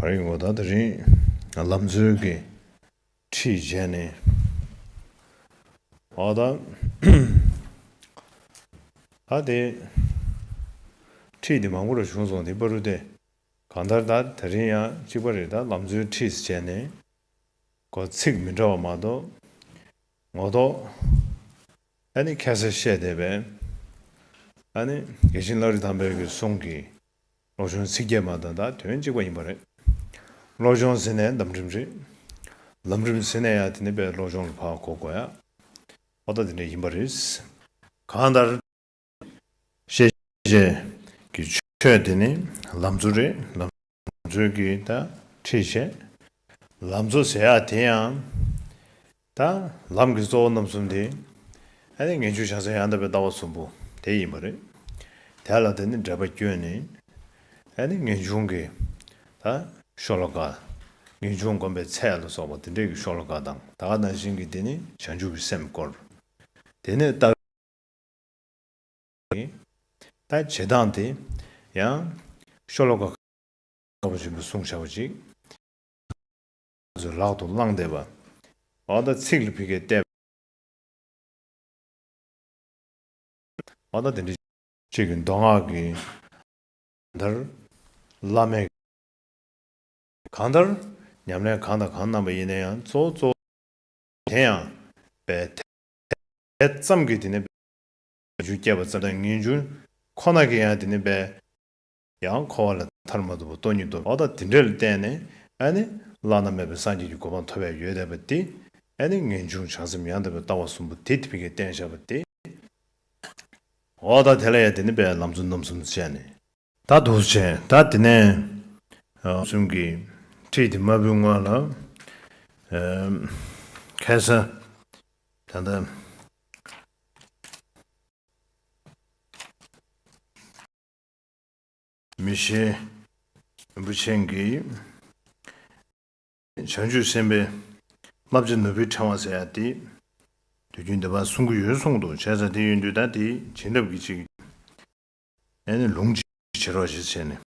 བར་ཡིན་ངོ་ད་དེ་རིང་ལམ་འཛོལ་གྱི་ཁྲིད་བྱས་ནས་ཨོ་ད་ད་དེ་ཁྲིད་དེ་མང་པོ་ར་བྱུང་སོང་དེ་པ་རུ་སྟེ་གང་ལྟར་ད་དེ་རིང་ཡང་གཅིག་པ་རེ་ད་ལམ་འཛོལ་ཁྲིད་བྱས་ནས་གོ་ཚིག་མི་འདྲ་བ་མ་གཏོགས་ངོ་ཐོག་ཨ་ནི་ཁྱད་གསར་བཤད་བསྡད་པས་ཨ་ནི་རྒྱལ་ཆེན་བླ་རི་དམ་དཔལ་གྱི་གསུང་གིས་བློ་སྦྱོང་ཚིག་བརྒྱད་མ་དང་དག་དོན་གཅིག་པ་ཡིན་པ་རེད། བློ་སྦྱོང་ཟེར་ནས་ལམ་རིམ་རེད། ལམ་རིམ་ཟེར་ནས་ཡང་དེ་ནས་པའི་བློ་སྦྱོང་ལ་བག་གོ་དགོས་ཡ། ཐོག་མཐའ་དེ་འདྲ་ཡིན་པ་རེད། གང་ལྟར། ཤེས་བྱེད་ཀྱི་ཆོས་དེ་ནི་ལམ་འཚོལ་རེད། ལམ་འཚོལ་གྱི་ད་ཁྲིད་བྱེད། ལམ་འཚོལ་ཟེར་ཡ་དེ་ཡང། དང། ལམ་གྱི་གཙོ་བོ་རྣམ་གསུམ་དེ། ཨ་ནི་ངན་སྤྱོད་བྱང་སེམས་ཡང་དག་པའི་ལྟ་བ་གསུམ་པོ་དེ་ཡིན་པ་རེད། དེ་ལ་དེ་ནི་འབྲེལ་པ་སྐྱོན་ནི། ཨ་ནི་ངེས་འབྱུང་གི། དང། ཤོ་ལོ་ཀ། ངེས་འབྱུང་བསྒོམ་པའི་ཚད་ལ་སོགས་པ་དེ་འདྲས་ཀྱི་ཤོ་ལོ་ཀ་དང་དག་སྣང་བཞིན་གྱི་དེ་ནི་བྱང་ཆུབ་ཀྱི་སེམས་སྐོར། དེ་ནས་རྟགས། ནི། དང། བྱེད་སྟངས་དེ། ཡང། ཤོ་ལོ་ཀ། ཁ་བ་ཆེན་པོའི་གསུང་བྱ་བ་གཅིག། བཟོད་ལག་ཏུ་བླངས་བསྡད་པ། བ་ད་ཚིག་ལ་ཕི་ཁའི་ལྟས། བ་ད་དེ་འདྲའི། གཅིག་གི་མདོ་སྔགས་ཀྱི། དར། བླ་མའི། གང་ལྟར། ཉམས་ལེན་གང་དང་གང་བསྣམས་པ་ཡིན་ན་ཡང་གཙོ་བོ་གཙོ། དེ་ཡང། པའི། དེ་ཙམ་གྱིས་དེ་ནི། རྒྱུ་བསྐྱེད་པ་ཙམ་དང་ངེས་འབྱུང། ཁོ་ན་གྱིས་ཡང་དེ་ནི་པའི། ཡང་འཁོར་བ་ལས་ཐར་མ་ཐུབ་པ་སྟོང་ཉིད་དུ་བ་དང་དེ་འདྲ་ལ་བརྟེན་ནས་ཨ་ནི་བླ་ན་མེད་པའི་སངས་རྒྱས་ཀྱི་གོ་འཕང་ཐོབ་པའི་ཡུལ་དད་པ་སྟེ། ཨ་ནི་ངེས་འབྱུང་བྱང་སེམས་ཡང་དག་པའི་ལྟ་བ་གསུམ་པོ་དེ་ཐིམ་གྱིས་བརྟེན་བཞག་པ་སྟེ། འོ་ད་དེ་ལ་ཡང་དེ་ནི་པའི་ལམ་རྫུན་རྣམ་གསུམ་དུ་བྱས་ནས། ད་དུ་བྱས་ད་དེ་ནས། གསུམ་གྱིས་ཁྲིད་དེ་མ་བུའི་སྔོན་ལ། ཁལ་ས་ད་ལྟ། མི་ཤེས། རིན་པོ་ཆེན་གྱིས། བྱང་ཆུབ་སེམས་དཔའི། ལྔ་བརྒྱ་ནོར་བུའི་ཕྲེང་བ་ཟེར་ཡང་དེ། དུས་རྒྱུན་བདེ་བར་གསུང་གི་ཡོན་སྲུང་དུ་བྱས་ཙང་དེ་ཡོད་དུས་ད་དེའི་བྱིན་རླབས་ཀྱིས་ཅིག། ནས་ནི་ལུང་ཅིག་བྱེད་རོགས་ཞེས་བྱས་ནས།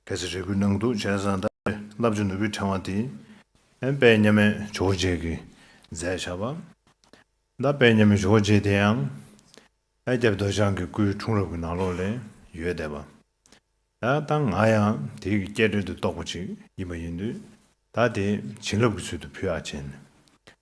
ཕལ་ཆེར་རེ་སྐུལ་གནང་འདུག་བྱས་ཙང་ད་ནི་རླབས་ཆེ་ནོར་བུའི་ཕྲེང་བ་འདི། ད་པད་མཉམ་མེད་ཇོ་བོ་རྗེས་ཀྱིས་མཛད་བྱ་བ། ད་པད་མཉམ་མེད་ཇོ་བོ་རྗེ་དེ་ཡང། ཨེ་སྐྱབས་རྡོ་བྱང་གི་སྐུའི་འཁྲུངས་རབས་ཀྱི་ནང་ལོགས་ལས་ཡོད་བསྡད་པ། ད་ལྟ་ང་ཡང་དེའི་གི་སྐྱེད་འབྲེལ་དུ་གཏོགས་པ་ཅིག་ཡིན་པ་ཡིན་དུས་ད་དེ་བྱིན་རླབས་ཀྱི་ཚུལ་དུ་ཕུལ་ཨ་ཆེན།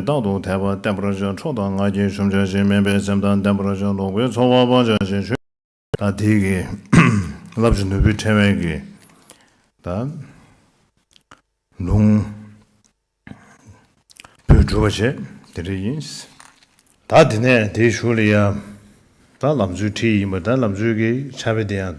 རྟག་ཏུ་དད་པ་བརྟན་པར་བྱ། ཁྲོ་དང་ང་རྒྱལ་ཆོམ་ཆ་བཞིན་དམན་པའི་སེམས་དང་ལྡན་པར་བྱ། ལོག་པའི་ཚོར་བ་སྤང་བྱ་ཞིང་ཆོས། དང། དེའི་གི། རླབས་ཀྱི་ནོར་བུའི་ཕྲེང་བས་གི། དང། ལུང། བུས་སྒྲུབ་པར་བྱེད། དེ་འདྲ་ཡིན། དང། དེ་ནས་དེའི་ཞུགས་ལ་ཡང། དང། ལམ་ཚུལ་ཁྲིད་ཡིན་པ་དང་ལམ་ཚུལ་གྱི་ཆ་བེ་དེ་ཡང།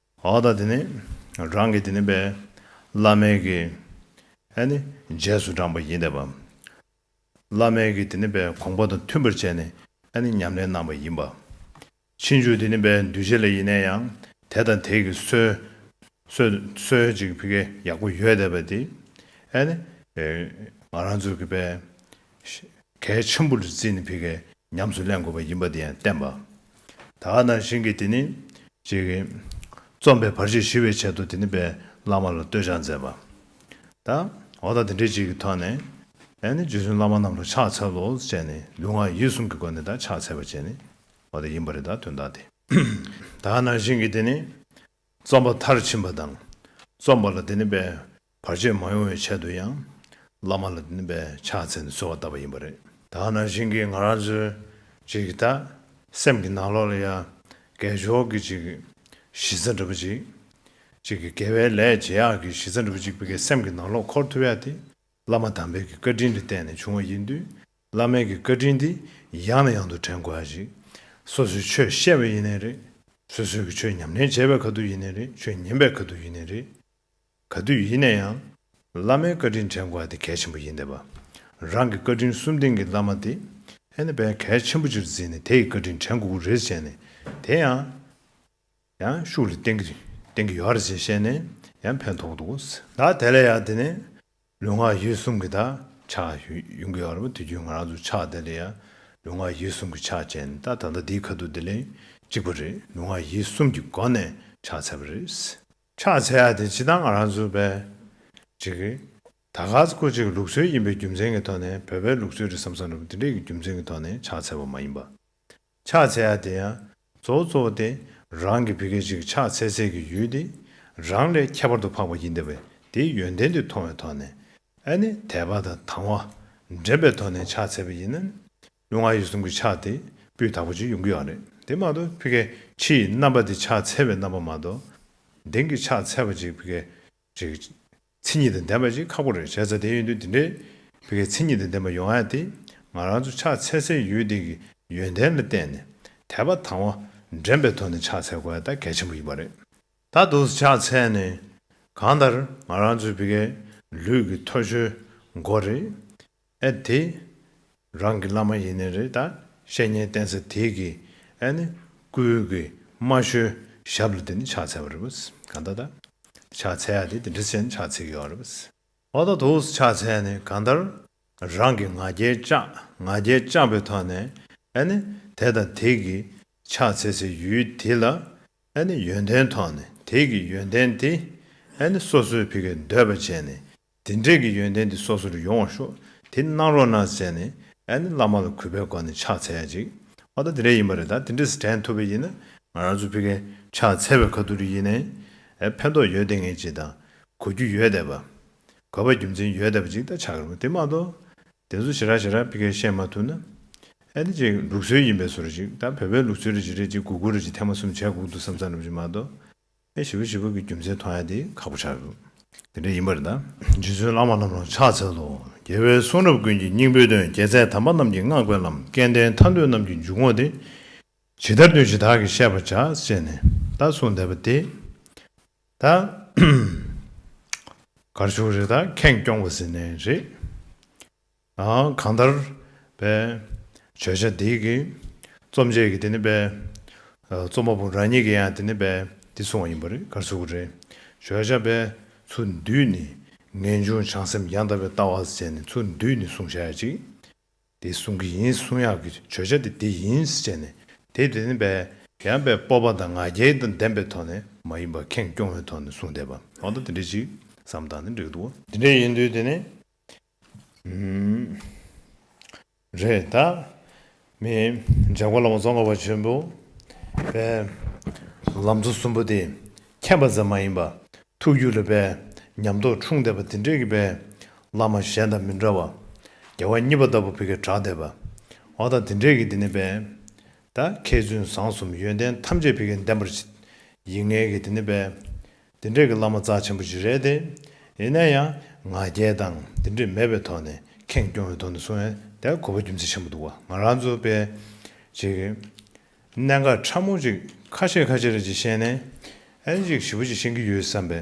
འོ་ད་དེ་ནི་རང་གི་དེ་ནི་པའི་བླ་མའི་གི་ཨ་ནི་རྗེས་སུ་འབྲངས་པ་ཡིན་ཏེ། བླ་མའི་གི་དེ་ནི་པའི་དགོངས་པ་དང་མཐུན་པར་བྱས་ནས་ཨ་ནི་ཉམས་ལེན་གནང་བ་ཡིན་པ། ཕྱིན་བཅུ་དེ་ནི་པའི་འདུས་བྱས་ལ་ཡེ་ནས་ཡང་དེ་དང་དེ་གི་སྲོལ་འཇིག་པའི་གི་ཡག་པོ་ཡོད་དེ་པ་དེ་ཨ་ནི། ང་རང་ཚོ་གི་པའི་ཞེས། གལ་ཆེན་པོ་ལས་བརྩིས་ནས་ཕི་གས་ཉམས་སུ་ལེན་དགོས་པ་ཡིན་པ་དེ་ཡང་བསྟན་པ། དག་ན་བཞིན་གྱིས་དེ་ནི། ཅེས། རྩོམ་པའི་བར་ཆད་ཞི་བའི་ཆེད་དུ་དེ་ནི་པའི་བླ་མ་ལ་བསྟོད་སྦྱང་མཛད་པ། དང། འོ་ད་དེ་འདྲའི་ཅིག་གི་ཐོག་ནས། ཡང་ནི་རྗེ་བཙུན་བླ་མ་རྣམས་ལ་ཕྱག་འཚལ་ལོ་ཅེས་ནས་ལུས་ངག་ཡིད་གསུམ་གྱི་སྒོ་ནས་དག་ཕྱག་འཚལ་བ་བཅས་ནི། འོ་ད་ཡིན་པ་རེད་དག་དོན་དག་དེ། དག་ན་བཞིན་གྱིས་དེ་ནི། རྩོམ་པ་མཐར་ཕྱིན་པ་དང། རྩོམ་པ་ལ་དེ་ནི་པའི་བར་ཆད་མ་ཡོང་བའི་ཆེད་དུ་ཡང། བླ་མ་ལ་དེ་ནི་པའི་ཕྱག་འཚལ་ནས་གསོལ་བ་བཏབ་པ་ཡིན་པ་རེད། ད་ནང་བཞིན་གྱི་ང་རང་ཚོའི་ཅིག་གི་ད། སེམས་ཀྱི་ནང་ལོགས་ལ་ཡ། གས་ཞོག་གི་ཅིག་གི་གཞི་རྩ་འདྲ་པོ་ཅིག། ཅིག་གི་དགེ་བའི་ལས་བྱེད་ཡག་གི་གཞི་རྩ་འདྲ་པོ་ཅིག་པའི་གས་སེམས་ཀྱི་ནང་ལོགས་འཁོར་ཐུབ་ཡ་དེ། བླ་མ་དམ་པའི་གི་བཀའ་དྲིན་དུ་བརྟེན་ནས་བྱུང་བ་ཡིན་དུས། བླ་མེད་ཀྱི་བཀའ་དྲིན་འདི་ཡང་ནས་ཡང་དུ་དྲན་དགོས་ཧ་ཅིག། སོ་སོའི་ཆོས་བཤད་པས་ཡིན་ནའི་རེད། སོ་སོའི་གི་ཆོས་ཉམས་ལེན་བྱས་པས་ག་དུས་ཡིན་ནའི་རེད་ཆོས་ཉན་པས་ག་དུས་ཡིན་ནའི་རེད། ག་དུས་ཡིན་ནས་ཡང། བླ་མའི་བཀའ་དྲིན་དྲན་དགོས་ཧ་དེ་གལ་ཆེན་པོ་ཡིན་འདས་པ། རང་གི་བཀའ་དྲིན་གསུམ་ལྡན་གྱི་བླ་མ་དེ། ཧེ་ནི་བས་གལ་ཆེན་པོ་ཆེར་འཛིན་ནས་དེ་ཡི་བཀའ་དྲིན་དྲན་དགོས་ཀུ་རེ་བྱས་ནས་དེ་ཡང། ཡང་ཤུགས་ལ་བརྟེན་གྱི་བརྟེན་གྱི་ཡོད་ཧ་རེ་བྱས་བཤད་ནས་ཡང་ཕན་ཐོགས་འདུག་གོ། ད་དེ་ལས་ཡག་དེ་ནས། ལུས་ངག་ཡིད་གསུམ་གྱི་དག་ཆགས་ཡོང་གི་ཡོད་རེད་མོད་དུས་རྒྱུན་ང་རང་ཚོ་ཕྱག་དེ་ལས་ཡང་ལུས་ངག་ཡིད་གསུམ་གྱི་ཕྱག་ཅན་ད་ད་ལྟ་འདིའི་ཁ་ཐུག་དེ་ལས་གཅིག་པ་རེད་ལུས་ངག་ཡིད་གསུམ་གྱི་སྒོ་ནས་ཕྱག་འཚལ་བ་རེད། ཕྱག་འཚལ་ཡ་དེ་སྤྱི་བཏང་ང་རང་ཚོ་བས་ཅིག་ད་ག་ཚོད་སྐོར་ཅིག་གི་ལུགས་སྲོལ་ཡིན་པའི་རྒྱུ་མཚན་གྱི་ཐོག་ནས་བོད་པའི་ལུགས་སྲོལ་རེད་བསམ་བསམ་རེད་མོད་དེ་འདྲའི་གི་རྒྱུ་མཚན་གྱི་ཐོག་ནས་ཕྱག་འཚལ་བ་མ་ཡིན་པ། ཕྱག་འཚལ་ཡ་དེ་ཡང་གཙོ་བོ་གཙོ་བོ་སྟེ་རང་གི་བུ་སྐད་ཅིག་ཕྱག་འཚལ་འཚལ་གྱི་ཡུལ་ཏེ། རང་ལས་ཁྱད་པར་དུ་འཕགས་པ་ཡིན་ཏེ་བས་དེའི་ཡོན་ཏན་དེ་མཐོང་བའི་ཐོག་ནས་ཨ་ནི་དད་པ་དང་དང་བ་འདྲེན་པའི་ཐོག་ནས་ཕྱག་འཚལ་བ་ཡིན་ན་ནི་ལུས་ངག་ཡིད་གསུམ་གྱི་ཕྱག་དེ་སྤུའི་དག་པ་ཅིག་ཡོང་གི་ཡོད་རེད་དེ་མ་གཏོགས་བུ་སྐད་ཕྱི་ཡི་རྣམ་པ་དེ་ཕྱག་འཚལ་བའི་རྣམ་པ་མ་གཏོགས། དེང་གི་ཕྱག་འཚལ་བ་ཅིག་བུ་སྐད་རེད། མཚན་ཉིད་དང་ལྡན་པ་ཞིག་ཁག་པོ་རེད་བྱས་ཚར་བསྡད་ཡོད་འདུག་དེ་འདྲའི་བོད་སྐད་མཚན་ཉིད་དང་ལྡན་པ་ཡོང་ཡ་དེ་ང་རང་ཚོ་ཕྱག་འཚལ་སའི་ཡུལ་འདི་གི་ཡོན་ཏན་ལ་བརྟེན་ནས་དད་པ་དང་བ་འདྲེན་པའི་ཐོག་ནས་ཕྱག་འཚལ་དགོས་ཡ་ད་གལ་ཆེན་པོ་ཡིན་པ་རེད། ད་དུང་ཕྱག་འཚལ་ནས་གང་ལྟར་ང་རང་ཚོའི་བོད་སྐད་ལུས་ཀྱི་ཐོ་ཤོའི་མགོ་རེད། ཨེ་དེ། རང་གི་བླ་མ་ཡིན་ནི་རེད་ད། བཤེས་གཉེན་བསྟེན་ས་དེ་གི། ཨེ་ནི། སྐུའི་གི། མ་ཞོའི། ཞབས་ལ་དེ་ནི་ཕྱག་འཚལ་བ་རེད། གང་ལྟར་ད། ཕྱག་འཚལ་ཡ་དེ་དེ་འདྲི་བྱས་ནི་ཕྱག་འཚལ་གི་ཡོད་རེད། ཨོ་ད་དུ། ཕྱག་འཚལ་ནི་གང་ལྟར། རང་གི་ང་རྒྱལ་བཅག། ང་རྒྱལ་བཅག་པའི་ཐོག་ནས། ཨེ་ནི། དེ་དང་དེ་གི། ཕྱག་འཚལ་སའི་ཡུལ་དེ་ལ། ཨེ་ནི། ཡོན་ཏན་ཐོག་ནས་དེ་གི་ཡོན་ཏན་དེ། ཨེ་ནི་སོ་སོའི་བི་གའི་འདོད་པ་ཅན་ནི། དེ་འབྲེལ་གྱི་ཡོན་ཏན་དེ་སོ་སོ་རུ་ཡོང་བར་ཤོག་དེ་གནང་རོགས་གནང་ཟེར་ནས་ཨ་ནི་བླ་མ་ལ་གུས་པའི་སྒོ་ནས་ཕྱག་འཚལ་ཡ་ཅིག་ཨོ་ད་དེ་འདྲས་ཡིན་པ་རེད་ད་དེ་འདྲས་དྲན་ཐུབ་པ་ཡིན་ན་ང་རང་ཚོ་ཕི་གས་ཕྱག་འཚལ་བའི་ཁ་ཐུག་རེ་ཡིན་ནའི་ཨེ་ཕན་ཐོག་ཡོད་དེ་ངས་ཅིག་ད་གོ་རྒྱུ་ཡོད་དེ་བ་གོ་བའི་རྒྱུ་མཚན་ཡོད་དེ་བ་ཅིག་ད་ཆགས་རོགས་དེ་མ་གཏོགས་དེ་ཚོ་ཞེ་དྲག་ཞེ་དྲག་ཕི་གས་བཤད་མ་ཐུབ་ན་ཨེ་དེ་ཅིག་ལུགས་སྲོལ་ཡིན་པས་སོ་རེ་ཅིག་ད་བོད་པའི་ལུགས་སྲོལ་རེ་ཅིག་རེ་ཅིག་གུ་གུ་རེ་ཅིག་ཐེངས་མ་གསུམ་བྱས་གུག་འདུག་བསམ་བསམ་རེ་བྱས་མ་གཏོགས། པའི་བྱེད་པོ་བྱེད་པོ་གི་རྒྱུ་མཚན་མཐོང་ཡ་དེ་ཁག་པོ་ཆགས་ཡོད། དེ་འདྲ་ཡིན་པར་གདའ། རྗེ་བཙུན་བླ་མ་རྣམས་རང་ཕྱག་འཚལ་ལོ། རྒྱལ་བའི་གསུང་རབ་ཀུན་གྱི་སྙིང་པོའི་དོན་རྒྱལ་མཚན་དམ་པ་རྣམས་ཀྱི་བསྔགས་པའི་ལམ་སྐལ་ལྡན་མཐའ་འདུལ་རྣམས་ཀྱི་འཇུག་ངོགས་དེ། ཇི་ལྟར་འདུལ་ཇི་དག་གིས་བཤད་པར་བྱ་ཅེས་ནས་ད་གསུངས་བསྡད་པ་དེ། ད། གར་བྱུང་རི་དྭགས་ཁེངས་སྐྱོང་བ་ཟིན་ནས་རེད། གང་ལྟར། བརྗོད་བྱ་འདིའི་གི། རྩོམ་འབྱེད་ཀྱི་དེ་ནི། རྩོམ་པ་པོ་རང་ཉིད་ཀྱི་ཡང་དེ་ནི། འདི་གསུང་བ་ཡིན་པ་རེད་གར་ཚུགས་པ་རེད། བརྗོད་བྱ། ཚུར་འདུས་ནི། ངེས་འབྱུང་བྱང་སེམས་རྒྱང་ལྟ་བའི་ལྟ་བ་ཟེར་ནས་ཚུར་འདུས་ནི་གསུང་བྱ་ཡ་གཅིག། དེ་གསུང་གི་ཡིན་གསུང་ཡག་གི་བརྗོད་བྱ་དེ་དེ་ཡིན་བྱས་ནས་དེ་དེ་ནི། ཡང་སྤོབས་པ་དང་ང་རྒྱལ་དང་ལྡན་པའི་ཐོག་ནས་མ་ཡིན་པར་ཁེངས་སྐྱོང་བའི་ཐོག་ནས་གསུང་བསྡད་པ། ལོག་ལྟ་དེ་འདྲའི་གཅིག་བསམ་བཏང་ནི་འགྲིག་འདུག། དེ་འདྲའི་ཡིན་དུས་དེ་ནི། རེད་ད། མི་འཇགས་པ་ལ་མོ་རྫོང་ཁ་བ་ཆེན་པོ་པའི་ལམ་མཚོ་གསུམ་པོ་དེ་ཁྱད་པ་ཙམ་མ་ཡིན་པ་ཐུགས་རྒྱུད་ལ་པའི་ཉམས་རྟོགས་འཁྲུངས་བསྡད་པ་དེ་འདྲའི་གི་པའི་བླ་མ་གཞན་དང་མི་འདྲ་བ་རྒྱལ་བ་གཉིས་པ་ལྟ་བུ་བི་གའི་གྲགས་བསྡད་པ་འོ་ད་དེ་འདྲའི་གི་དེ་ནི་པའི་ད་མཁས་བཙུན་བཟང་གསུམ་ཡོན་ཏན་ཐམས་ཅད་བི་གའི་བདེན་པར་ཡིད་ངེས་གི་དེ་ནི་པའི་འདི་འདྲས་ཀྱི་བླ་མ་རྩ་ཆེན་པོ་ཞིག་རེད་དེ། ཡིན་ན་ཡང་ང་རྒྱལ་དང་འདི་འདྲས་མེད་པའི་ཐོག་ནས་ཁེངས་སྐྱོང་བའི་ཐོག་ནས་སོང་ཡང་དེ་གོ་བ་རྒྱུ་མཚན་ཆེན་པོ་འདུག་བ་ང་རང་ཚོ་པས་ཅིག་གནད་འགག་ཕྲ་མོ་ཅིག་ཁ་ཤས་ཁ་ཤས་རེ་ཅིག་ཤེས་ནས་ཨན་ཅིག་ཞིབ་པོ་ཅིག་ཤེས་ཀྱི་ཡོད་བསམ་པའི་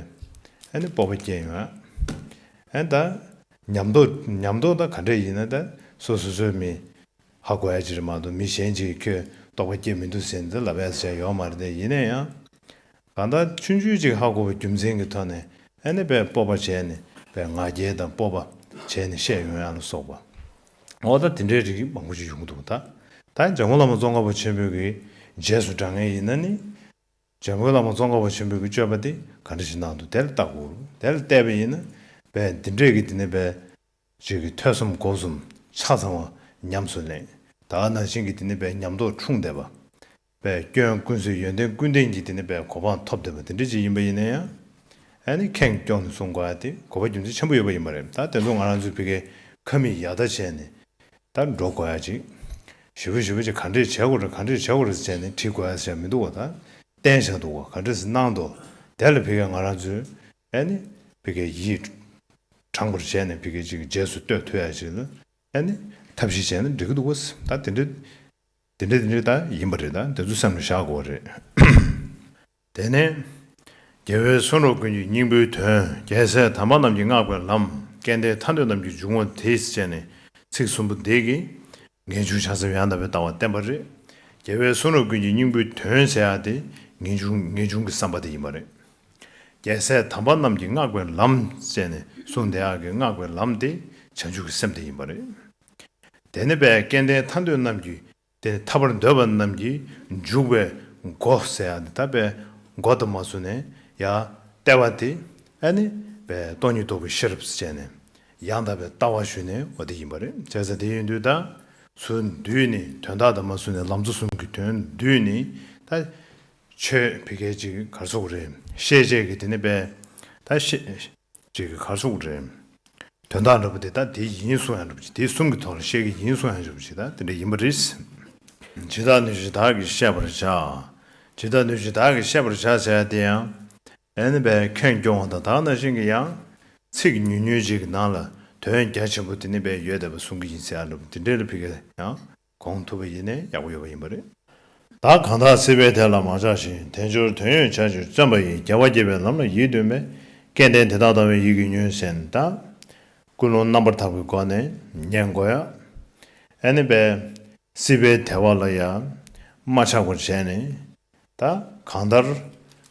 ཨན་སྤོབས་པ་སྐྱེས་ཡོང་ཨན་ད་ཉམས་རྟོགས་ཉམས་རྟོགས་ད་ག་འདྲས་ཡིན་ན་ད་སོ་སོ་སོའི་མི་ཧ་གོ་ཡ་ཅིག་རེད་མ་གཏོགས་མི་གཞན་ཅིག་གིས་ཁྱོད་རྟོགས་པ་སྐྱེས་མི་འདུག་ཟེར་ནས་ལབ་ཨེ་ཟེར་བྱས་ཡོད་མ་རེད་དེ་ཡིན་ན་ཡང་གང་དག་ཆུན་ཆུན་ཅིག་ཧ་གོ་བའི་རྒྱུ་མཚན་གྱི་དོན་ནི་ཨེ་ནི་པའི་སྤོབས་པ་བྱས་ནི་པའི་ང་རྒྱལ་དང་སྤོབས་པ་བྱས་ནི་ཤེས་ཡོན་ཡང་ལ་སོགས་པ། ཨོ་ད་དེ་འདྲའི་རིགས་མང་པོ་ཅིག་ཡོང་འདུག་ད་ད་ཡང་འཇམ་མགོན་བླ་མ་ཙོང་ཁ་བ་ཆེན་པོའི་གི་རྗེས་སུ་འབྲང་ངེས་ཡིན་ན་ནི། འཇམ་མགོན་བླ་མ་ཙོང་ཁ་བ་ཆེན་པོའི་གི་སྤྱོད་པ་དེ་ག་འདྲ་ཞིག་གནང་འདུག་དེ་ལ་བལྟ་དགོས། དེ་ལ་བལྟས་པ་ཡིན་ན་བས་འདི་འདྲས་གི་དེ་ནི་བས། ཅིག་གི་ཐོས་བསམ་སྒོ་གསུམ་ཆ་ཚང་བ་ཉམས་སུ་ལེན། ད་ནང་བཞིན་གི་དེ་ནི་བས་ཉམས་རྟོགས་འཁྲུངས་བསྡད་པ། པའི་སྐྱོན་ཀུན་བཟོད་ཡོན་ཏན་ཀུན་ལྡན་གྱི་དེ་ནི་པའི་གོ་འཕང་ཐོབ་འདོད་པ་དེ་འདྲ་ཅིག་ཡིན་པ་ཡིན་ན་ཡང། ཨ་ནི་ཁེངས་སྐྱོང་ནས་གསུང་དགོས་ཏེ་གོ་བ་རྒྱུ་མཚན་ཆེན་པོ་ཡོད་པ་ཡིན་པ་རེད་ད་དེ་ཚོ་ང་རང་ཚོའི་བི་ཁའི་ཁ་མིག་ཡག་ད་བྱས་ནས་ད་འགྲོ་དགོས་ཡ་ཅིག་ཞི་བ་ཞི་བ་ཅིག་ག་འདྲས་བྱས་གོ་རེ་ག་འདྲས་བྱས་གོ་རེ་བྱས་ནས་བྲིས་དགོས་ཡ་ས་ཞག་མི་འདུག་བ་ད་བསྟན་བཞག་འདུག་བ་ག་འདྲས་སུ་གནང་འདོ་དེ་ལ་བི་ཁའི་ང་རང་ཚོའི་ཨ་ནི་བི་ཁའི་ཡིད་དྲངས་པར་བྱས་ནས་བི་ཁའི་ཅིག་རྗེས་སུ་བསྟོད་ཐུབ་ཡ་ཅིག་ལ་ཨ་ནི་ཐབས་ཤེས་བྱས་ན་འགྲིག་གི་འདུག་བ་ད་དེ་འདྲས། དེ་འདྲས་དེ་འདྲས་ད་ཡིན་པ་རེད་ད་དེ་ཚོ་སེམས་ལ་བཞག་དགོས་རེད། དེ་ནས། རྒྱལ་བའི་གསུང་རབ་ཀུན་གྱི་སྙིང་པོའི་དོན་རྒྱལ་སྲས་དམ་པ་རྣམས་ཀྱིས་བསྔགས་པའི་ལམ་སྐལ་ལྡན་ཐར་འདོད་རྣམས་ཀྱི་འཇུག་ངོགས་དེས་བཅད་ནས་ཚིག་གསུམ་པོ་འདི་གིས། ངེས་འབྱུང་བྱང་སེམས་ཡང་དག་པའི་ལྟ་བ་བསྟན་པ་རེད། རྒྱལ་བའི་གསུང་རབ་ཀུན་གྱི་སྙིང་པོའི་དོན་ཟེར་ཡག་དེ་ངེས་འབྱུང་ངེས་འབྱུང་གི་བསམ་པ་དེ་ཡིན་པ་རེད། རྒྱལ་སྲས་དམ་པ་རྣམས་ཀྱིས་བསྔགས་པའི་ལམ་བཅད་ནས་གསུང་དེ་ཡག་གིས་བསྔགས་པའི་ལམ་དེ་བྱང་ཆུབ་ཀྱི་སེམས་དེ་ཡིན་པ་རེད། དེ་ནི་བད་ཀན་ལྡན་མཐའ་འདོད་རྣམས་ཀྱི། དེ་ནི་ཐར་པར་འདོད་པ་རྣམས་ཀྱི། འཇུག་པའི་སྒོ་ཟེར་ཡང་འདི་ལྟ་བས། སྒོ་དུ་མ་བཟུང་ནས་ཡང་ལྟེ་བ་སྟེ། ཨ་ནི་བའི་སྟོང་ཉིད་རྟོགས་པའི་ཤེས་རབ་བཅས་ནས། ཡང་དག་པའི་ལྟ་བ་ཞུས་ནས་འོ་དེ་ཡིན་པར་བྱས་ཟེར་དེ་ཡིན་དུས་དང། ཚུལ་འདུས་ནི་དོན་དག་དུ་མ་བཟུང་ནས་ལམ་ཚོ་གསུམ་གྱི་དོན་བསྡུས་ནི། ཆོས་ཕི་གས་ཅིག་གི་གར་སོགས་རེད། ཤེས་བྱེད་ཀྱི་དེ་ནི་དཔེ། ད་ཤེས་བྱེད་ཀྱི་གར་སོགས་རེད། དོན་དག་འདྲ་པོ་དེ་ད་དེ་ཡིན་གསུང་ཡང་འགྲུབ་ཅིག་དེ་གསུམ་གྱི་ཐོག་ལ་བཤད་ཀྱི་ཡིན་གསུང་ཡང་འགྲུབ་ཅིག་ད་དེ་འདྲ་ཡིན་པ་རེད། ཇི་ལྟར་ནུས་ཇི་ལྟར་གྱིས་ཤེས་པར་བྱ། ཇི་ལྟར་ནུས་ཇི་ལྟར་གྱིས་ཤེས་པར་བྱ་བྱས་དེ་ཡང། ཨེན་བས་ཁྱོད་སྐྱོ་བ་དང་དག་ན་བཞིན་གྱི་ཡང། ཚིག་ཉུང་ཉུང་ཅིག་གི་ནང་ལ་དོན་རྒྱ་ཆེན་པོ་དེ་ནི་བས་ཡོད་བསྡད་པ་གསུང་གི་ཡིན་གསལ་ཡང་འགྲུབ་དེ་འདྲའི་ལ་ཕི་གས་ཡང། གོང་དུ་བ་ཡིན་ནས་ཡག་པོ་ཡོད་པ་ཡིན་པ་རེད། བདག་གང་དག་སྲིད་པའི་དལ་ལ་མ་ཆགས་ཤིང་དལ་འབྱོར་དོན་ཡོད་བྱ་ཕྱིར་བརྩོན་པ་ཡིས་རྒྱལ་བ་དགྱེས་པའི་ལམ་ལ་ཡིད་བརྟོན་པས་སྐལ་ལྡན་དེ་དག་དང་བའི་ཡིད་ཀྱི་ཉོན་ཟིན་དག། ཀུན་སློང་རྣམ་པར་དག་པའི་སྒོ་ནས་ཉན་དགོས། ཨཱ་ནི་པ། སྲིད་པའི་དལ་བ་ལ་ཡང་མ་ཆགས་པར་བྱས་ནས། ད་གང་ལྟར།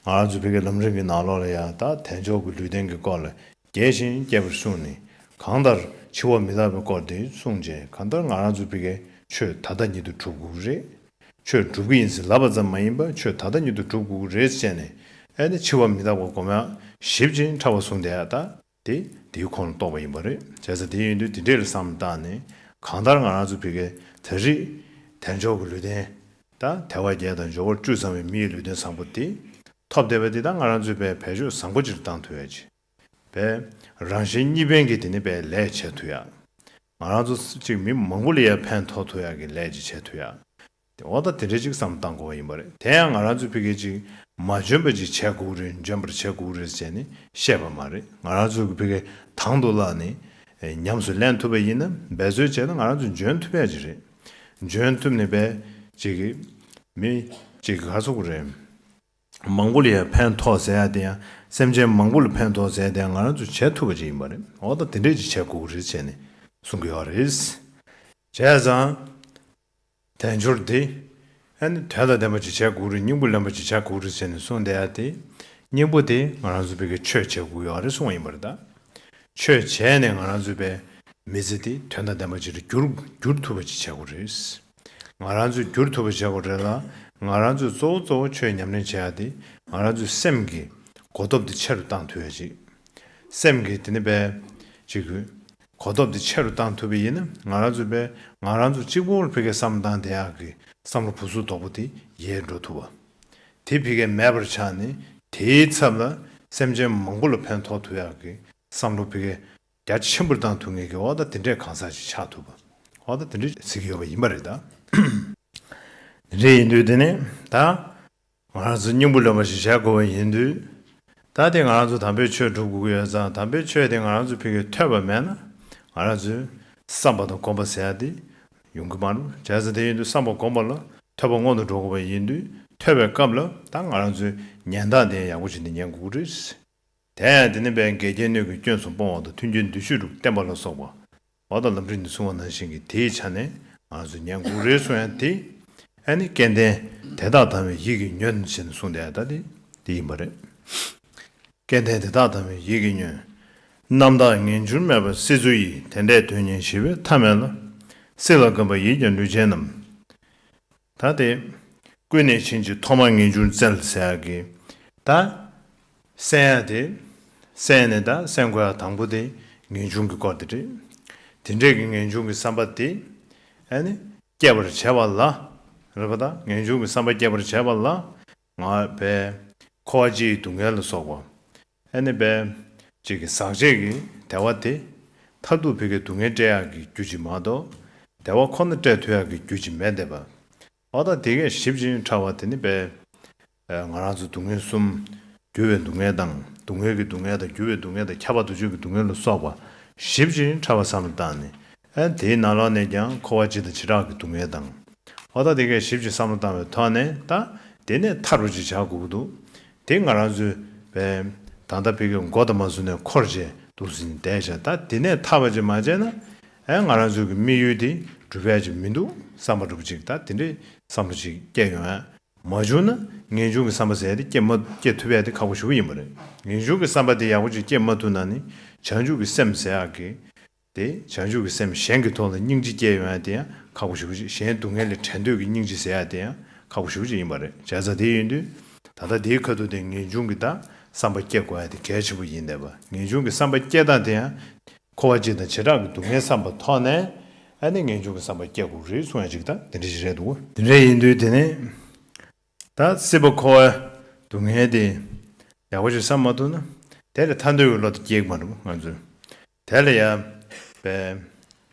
ང་རང་ཚོའི་བོད་ཀྱི་ལམ་རིམ་གྱི་ནང་ལོགས་ལ་ཡང་ད་དལ་འབྱོར་གྱི་ལུས་རྟེན་གྱི་སྐོར་ལ་རྒྱས་ཤིང་རྒྱས་པར་གསུངས་ནས། གང་ལྟར་འཆི་བ་མི་རྟག་པའི་སྐོར་འདི་གསུངས་རྗེས་གང་ལྟར་ང་རང་ཚོའི་བོད་ཀྱི་ཆོས་ད་ལྟ་ཉིད་དུ་གྲུབ་དགོས་ཀྱི་རེད། ཆོས་འགྲུབ་ཀྱི་ཡིན་ཟེར་ལབ་པ་ཙམ་མ་ཡིན་པར་ཆོས་ད་ལྟ་ཉིད་དུ་གྲུབ་དགོས་ཀྱི་རེད་བཤད་ནས་ཨེ་ནི་འཆི་བ་མི་རྟག་པ་སྒོམ་ཡང་ཞིབ་ཅིང་ཕྲ་བ་གསུངས་དེ་ད། དེ་དེའི་ཁོངས་ལ་གཏོགས་པ་ཡིན་པ་རེད། བྱས་ཙང་དེ་ཡིན་དུས་དེ་འདྲས་ལ་བསམ་བཏང་ནས། གང་ལྟར་ང་རང་ཚོ་བྷི་གའི་དལ་རིགས་དལ་འབྱོར་གྱི་ལུས་རྟེན་དང་དལ་བ་རྒྱལ་དང་འབྱོར་བ་བཀྲུས་ཚང་བའི་མིའི་ལུས་རྟེན་བཟང་པོ་དེ་ཐོབ་བསྡད་པ་དེ་དང་ང་རང་ཚོའི་བའི་བལ་ཕྱོགས་བཟང་པོ་སྤྱིར་བཏང་དུ་བས། བའི་རང་བཞིན་གཉིས་ཕན་གྱི་དེ་ནི་བའི་ལས་བྱས་དུས་ཡག། ང་རང་ཚོ་གཅིག་མི་མང་པོ་ལ་ཡར་ཕན་ཐོགས་དུས་ཡག་གི་ལས་ཅིག་བྱས་དུས་ཡག། དེ་འོག་ད་དེ་འདྲས་ཅིག་བསམ་བཏང་དགོས་པ་ཡིན་པ་རེད་དེ་ཡང་ང་རང་ཚོས་ཕི་གེ་ཅིག་མ་འཇོན་པ་ཅིག་བྱས་གུག་རེད་འཇོན་པར་བྱས་གུག་རེད་ཅེས་ནི་བཤད་པ་མ་རེད་ང་རང་ཚོས་ཀྱི་ཕི་གེ་དང་དུ་བླག་ནི་ཉམས་སུ་ལེན་ཐུབ་པ་ཡིན་ན་འབད་རྩོལ་བྱས་ན་ང་རང་ཚོས་འཇོན་ཐུབ་ཡ་ཅིག་རེད་འཇོན་ཐུབ་ནི་བས་ཅིག་གི་མི་ཅིག་གི་ཁ་སོ་གུ་རེད། མང་པོ་ལ་ཡང་ཕན་ཐོགས་ཟེར་ཡ་དེ་ཡང་སེམས་ཅན་མང་པོ་ལ་ཕན་ཐོགས་ཟེར་ཡ་དེ་ཡང་ང་རང་ཚོས་བྱས་ཐུབ་པ་ཅིག་ཡིན་པ་རེད་འོག་ད་དེ་འདྲས་ཅིག་བྱས་གུག་རེད་ཅེས་ནི་གསུང་གི་ཡོད་རེད། བྱས་ཙང། དལ་འབྱོར་འདི། ཨེ་ནི་དོན་དང་ལྡན་པ་ཅིག་བྱས་དགོས་རེད་སྙིང་པོ་ལེན་པ་ཅིག་བྱ་དགོས་རེད་ཟེར་ནས་གསུངས་བསྡད་ཡ་དེ། སྙིང་པོ་དེ་ང་རང་ཚོ་བོད་ཀྱི་ཆོས་བྱེད་དགོས་ཡོད་རེད་གསུངས་བ་ཡིན་པ་རེད་ད། ཆོས་བྱས་ནས་ང་རང་ཚོའི་བའི་མི་ཚེ་དེ་དོན་དང་ལྡན་པ་ཅིག་ལ་བསྒྱུར་བསྒྱུར་ཐུབ་པ་ཅིག་བྱེད་དགོས་རེད། ང་རང་ཚོས་བསྒྱུར་ཐུབ་པ་བྱེད་དགོས་རེད་ལ་ང་རང་ཚོས་གཙོ་བོ་གཙོ་བོ་ཆོས་ཉམས་ལེན་བྱེད་ཡ་དེ་ང་རང་ཚོའི་སེམས་ཀྱི་གོ་སྟོབས་དེ་ཆེ་རུ་བཏང་ཐུབ་ཡ་ཅིག། སེམས་ཀྱི་དེ་ནི་བའི། ཅིག། གོ་སྟོབས་དེ་ཆེ་རུ་བཏང་ཐུབ་པས་ཡིན་ན་ང་རང་ཚོའི་པས་ང་རང་ཚོ་གཅིག་པུར་ཕི་ཀའི་བསམ་བློ་བཏང་དེ་ཡག་གི་བསམ་བློ་བུ་ཟུག་དོག་པོ་དེ་ཡལ་འགྲོ་ཐུབ་བ། དེ་ཕི་ཀའི་མེད་པར་ཆགས་ནས་དེའི་ཚབ་ལ་སེམས་ཅན་མང་པོ་ལ་ཕན་ཐོག་ཐུག་ཡག་གི་བསམ་བློ་ཕི་ཀའི་རྒྱ་ཆེན་པོར་བཏང་ཐུབ་ངེས་གི་འོག་ད་དེ་འདྲས་གང་ཟག་ཅིག་ཆགས་ཐུབ་བ་འོག་ད་དེ་འདྲས་ཟེར་གི་ཡོད་པ་ཡིན་པ་རེད་ད། དེ་འདྲས་ཡིན་དུས་དེ་ནས་ད། ང་རང་ཚོ་སྙིང་པོ་ལོན་པ་ཞིག་བྱ་དགོས་པ་ཡིན་དུས། ད་ལྟའི་ང་རང་ཚོ་དམ་པའི་ཆོས་སྒྲུབ་དགོས་ཀྱི་ཡོད་ཙང་དམ་པའི་ཆོས་དེ་ང་རང་ཚོའི་ཕི་གས་ཐོས་པ་མེད་ན། ང་རང་ཚོས་བསམ་པ་དང་གོམས་པ་ཟེར་དེ་ཡོང་གི་མ་རུ་བྱས་ཙང་དེ་ཡིན་དུས་བསམ་པ་གོམས་པ་ལ་ཐོས་པ་སྔོན་དུ་འགྲོ་དགོས་པ་ཡིན་དུས་ཐོས་པའི་སྐབས་ལ་ད་ང་རང་ཚོས་ཉན་སྟངས་དེ་ཡང་ཡག་པོ་ཞིག་འདི་ཉན་དགོས་ཀྱི་རེད། དེ་ཡང་དེ་ནི་བན་དགེ་རྒྱལ་ནུས་ཀྱི་སྐྱོན་སོགས་སྤོང་བ་དང་མཐུན་རྐྱེན་བསྡུས་ཤུགས་དྲུག་བསྟན་པ་ལ་སོགས་པ། བ་དང་ལམ་འཁྲིད་ནས་སྲུང་བ་ནང་བཞིན་གྱི་དེའི་ཆ་ནས་ང་ཚོས་ཉན་དགུག་རེ་སོ་ཡང་དེ་ཨེ་ནི་སྐལ་ལྡན་དེ་དག་དང་བའི་ཡིད་ཀྱི་ཉོན་བྱེད་ནས་སྲུང་དེ་ཨེ་ད་དེ་དེ་ཡིན་པ་རེད། སྐལ་ལྡན་དེ་དག་དང་བའི་ཡིད་ཀྱི་ཉོན། རྣམ་དག་ངན་འགྱུར་མེད་པར་སྲིད་མཚོ་ཡི་དེ་འདྲའི་དོན་གཉེར་ཞི་བའི་མཐའ་མེད་ལ། སྲིད་ལ་དགོན་པ་ཡིད་ཀྱི་ལུས་ཅན་རྣམས། ད་དེ། ཀུན་ནས་བྱིན་གྱིས་ཐོག་མ་ངེས་འབྱུང་བཙལ་ཟེར་ཡག་གི། ད། བསྲན་ཡ་དེ། བསྲན་ནས་དང་བསྲན་དགོས་ཡ་དང་པོ་དེ་ངེས་འབྱུང་གི་སྐོར་དེ་རེད། དེ་འདྲས་ཀྱི་ངེས་འབྱུང་གི་བསམ་པ་དེ། ཨེ་ནི། སྐྱེད་པར་བྱེད་པ་ལ། རེད་པ་ད། ངེས་འབྱུང་གི་བསམ་པ་སྐྱེད་པར་བྱེད་པ་ལ། ང། བས། འཁོར་བ་སྤྱིའི་སྡུག་བསྔལ་ལ་སོགས་པ། ཨེ་ནི། བས། ཅིག་གི་ཟག་བཅས་ཀྱི་དལ་བ་དེ། མཐར་ཐུག་བུ་གའི་སྡུག་བསྔལ་བསྐྲད་ཡག་གི་རྒྱུ་ཅིག་མ་གཏོགས། དལ་བ་ཁོ་ན་བསྐྲད་ཐུ་ཡག་གི་རྒྱུ་ཅིག་མེད་དེ། བ་ད་དེ་ཀས་ཞིབ་ཅིང་ཕྲ་བ་དེ་ནི། བས། ང་རང་ཚོའི་སྡུག་བསྔལ་གསུམ། འགྱུར་བའི་སྡུག་བསྔལ་དང། སྡུག་བསྔལ་གྱི་སྡུག་བསྔལ་དང་འགྱུར་བའི་སྡུག་བསྔལ་དང་ཁྱབ་པ་དུ་ཆོས་ཀྱི་སྡུག་བསྔལ་ལ་སོགས་པ། བཞི་བཞིན་ཕྲ་བ་བསམ་བློ་བཏང་ནས། དེའི་ནང་ལོགས་ནས་ཀྱང་འཁོར་བ་སྤྱི་དང་བྱེ་བྲག་གི་སྡུག་བསྔལ་དང། ཨོ་ད་དེ་སྐད་བཞི་བཞིན་བསམ་བློ་བཏང་བའི་ཐོག་ནས་ད། དེ་ནས་མཐར་རོ་གཅིག་བྱ་དགོས་ཀྱི་འདུག། དེ་ང་རང་ཚོའི། ད་ལྟ་ཕི་གའི་མགོ་དང་མ་ཟུར་ནས་འཁོར་བཅས་འདུག་ཟིན་བསྡད་བྱ་ད་དེ་ནས་ཐར་བ་ཅིག་མ་བྱས་ན། ང་རང་ཚོའི་གི་དམིགས་ཡུལ་དེ་འགྲུབ་ཡ་ཅིག་མི་འདུག་བསམ་པ་འགྲུབ་ཅིག་ད་དེ་འདྲའི་བསམ་བློ་ཅིག་སྐྱེས་ཡོང་ཡ་མ་བྱུང་ན་ངེས་འབྱུང་གི་བསམ་པ་ཟད་དེ་སྐྱེ་མ་སྐྱེ་ཐུབ་ཡག་དེ་ཁག་པོ་ཞུ་གི་ཡིན་པ་རེད། ངེས་འབྱུང་གི་བསམ་པ་དེ་ཡག་པོ་ཅིག་སྐྱེ་མ་ཐུབ་ན་ནི་བྱང་ཆུབ་ཀྱི་སེམས་ཟད་ཨག་གི། དེ་བྱང་ཆུབ་ཀྱི་སེམས་གཞན་གྱི་ཐོག་ལ་སྙིང་རྗེ་སྐྱེ་ཡོང་ཡག་དེ་ཡང་ཁག་པོ་ཞུ་གི་ཅིག་གཞན་སྡུག་བསྔལ་ལས་བྲལ་འདོད་ཀྱི་སྙིང་རྗེ་ཟད་ཡག་དེ་ཡང་ཁག་པོ་ཞུ་གི་ཅིག་ཡིན་པ་རེད་བྱས་ཙང་དེ་ཡིན་དུས་ད་ལྟ་དེའི་ཁ་ཐུག་དེ་ངེས་འབྱུང་གི་བདག་བསམ་པ་སྐྱེ་དགོས་ཡག་དེ་གལ་ཆེན་པོ་ཡིན་དེ་བ་ངེས་འབྱུང་གི་བསམ་པ་སྐྱེ་སྟངས་དེ་ཡང་འཁོར་བ་སྤྱི་དང་བྱེ་བྲག་གི་སྡུག་བསྔལ་བསམ་པ་ཐོག་ནས་ཨ་ནི་ངེས་འབྱུང་གི་བསམ་པ་སྐྱེ་དགོས་རེད་གསུང་ཡ་ཅིག་དང་དེ་འདྲ་ཞིག་རེད་འདུག། དེ་འདྲ་ཡིན་དུས་དེ་ནས་ད་སྲིད་པ་འཁོར་བའི་སྡུག་བསྔལ་དེ་ཡག་པོ་ཞིག་བསམ་མ་ཐུབ་ན་དེ་ལས་ཐར་འདོད་ཀྱི་བློ་དེ་སྐྱེ་གི་མ་འདུག་ང་ཚོས་དེ་ལ་ཡ་བས་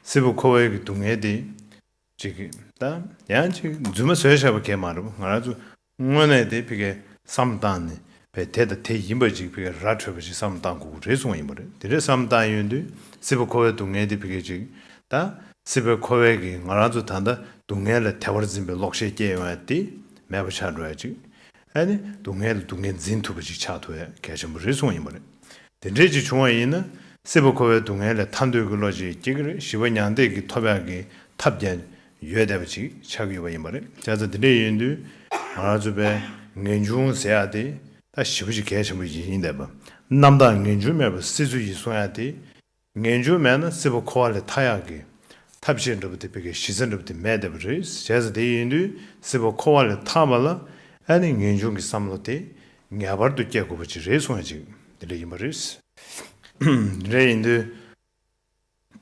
སྲིད་པ་འཁོར་བའི་གི་སྡུག་བསྔལ་དེ་ཅིག་ད་ཡང་ཅིག་རྫུན་མ་བཟོས་བཞག་པ་གས་མ་རེད་ང་རང་ཚོ་དངོས་གནས་དེ་ཕི་གས་བསམ་བཏང་ནས་བས་དེ་དང་དེ་ཡིན་པ་ཅིག་ཕི་གས་ར་འཕྲོད་པ་ཞིག་བསམ་བཏང་དགོས་གི་རེད་གསུངས་བ་ཡིན་པ་རེད་དེ་འདྲས་བསམ་བཏང་ཡོད་དུས་སི་པ་ཁོ་བའི་སྡུག་བསྔལ་དེ་ཕི་གས་ཅིག་ད་སི་པའི་ཁོ་བའི་གིས་ང་རང་ཚོ་ད་ལྟ་སྡུག་བསྔལ་ལ་དལ་བར་འཛིན་པའི་ལོག་ཤེས་སྐྱེ་ཡོང་བས་དེ་མེད་པ་ཆགས་འགྲོ་ཡ་ཅིག་ཨ་ནི་སྡུག་བསྔལ་ལ་སྡུག་བསྔལ་འཛིན་ཐུབ་པ་ཅིག་ཆགས་ཐུབ་བས་གལ་ཆེན་པོ་རེད་གསུངས་བ་ཡིན་པ་རེད་དེ་འདྲས་ཅིག་བྱུང་བ་ཡིན་ན་སི་པ་ཁོ་བའི་སྡུག་བསྔལ་ལས་ཐར་འདོད་ཀི་བློ་ཅིག་སྐྱེ་གི་རེད་བཞི་པ་མྱང་འདས་ཀི་ཐོབ་ཡག་གི་ཐབས་ཀྱང་ཡོད་བསྡད་པ་ཅིག་ཆགས་ཀྱི་ཡོད་པ་ཡིན་པ་རེད། སྐྱ་ཚ་འདི་འདྲ་ཡིན་དུས་ང་རང་ཚོ་པས་ངེས་འབྱུང་ཟེར་ཡག་དེ་ད་ཞི་བ་ཞིག་གལ་ཆེན་པོ་ཡིན་ཡིན་བསྡད་པ། རྣམ་དག་ངེས་འབྱུང་མེད་པར་སྲིད་འཚོ་ཡིན་གསུང་ཡག་དེ། ངེས་འབྱུང་མེད་ན་སྲིད་པ་འཁོར་བ་ལས་ཐར་ཡག་གི། ཐབས་ཤེས་འགྲུབ་པ་དེ་དཔེ་གལ་གཞི་རྩ་འགྲུབ་དེ་མེད་བསྡད་པ་རེད་བྱས་ཙང་དེ་ཡིན་དུས་སྲིད་པ་འཁོར་བ་ལས་ཐར་བ་ལ་ཨ་ནི་ངེས་འབྱུང་གི་བསམ་བློ་དེ་ངེས་པར་དུ་སྐྱེ་དགོས་པ་ཅིག་རེད་གསུང་ཡག་ཅིག་འདི་འདྲ་ཡིན་པ་རེད། འདི་འདྲ་ཡིན་དུས།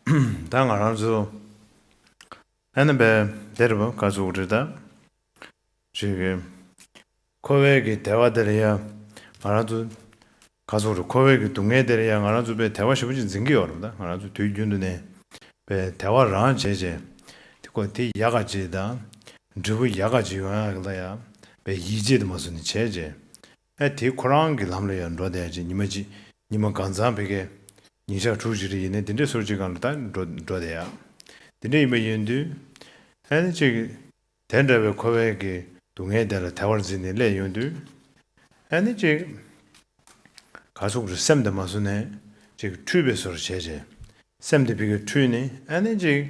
ད་ང་རང་ཚོ་ཨ་ན་པའི་སྡེར་བ་དཀའ་ཚུགས་རེ་ད་རེ་གི་ཁོ་བོའི་གི་དལ་བ་དེར་ཡང་ང་རང་ཚོ་དཀའ་ཚུགས་རེ་ཁོ་བོའི་གི་སྡུག་བསྔལ་དེར་ཡང་ང་རང་ཚོ་པའི་དལ་བ་ཞེ་པོ་ཅིག་འཛིན་གི་ཡོད་རབས་ད་ང་རང་ཚོ་དུས་རྒྱུན་དུ་ནས་པའི་དལ་བ་རང་བྱས་བྱས་དེ་ཁོ་དེ་ཡག་ག་ཅིག་དང་འབྲས་བུ་ཡག་ག་ཅིག་ཡོང་ཡག་གི་ལ་ཡག་པའི་ཡིད་ཆེས་དེ་མ་སུ་ནས་བྱས་བྱས་ཨེ་དེ་ཁོ་རང་གི་ལམ་ལ་ཡར་འགྲོ་བསྡད་ཅིག་ཉི་མ་གཅིག་ཉི་མ་གང་ཚང་བེ་གའི་ཉིན་ཞག་དྲུག་ཅིག་རེ་ཡིན་ནའི་དེ་འདྲའི་སོར་གཅིག་གང་ལ་ད་འགྲོ་འགྲོ་བསྡད་ཡ། དེ་འདྲ་ཡིན་པ་ཡིན་དུས། ཨེ་ན་ཅིག། དེ་འདྲ་བའི་ཁོ་བོའི་གི་སྡུག་བསྔལ་དེ་ལ་དལ་བར་འཛིན་ནས་སླེ་ཡོང་དུས། ཨེ་ན་ཅིག། ག་སོག་རི་སེམས་དེ་མ་སོ་ནས་ཅིག་འཁྲུས་བེ་སོར་བྱས་བྱས། སེམས་དེ་བེ་གའི་འཁྲུས་ནས་ཨེ་ན་ཅིག།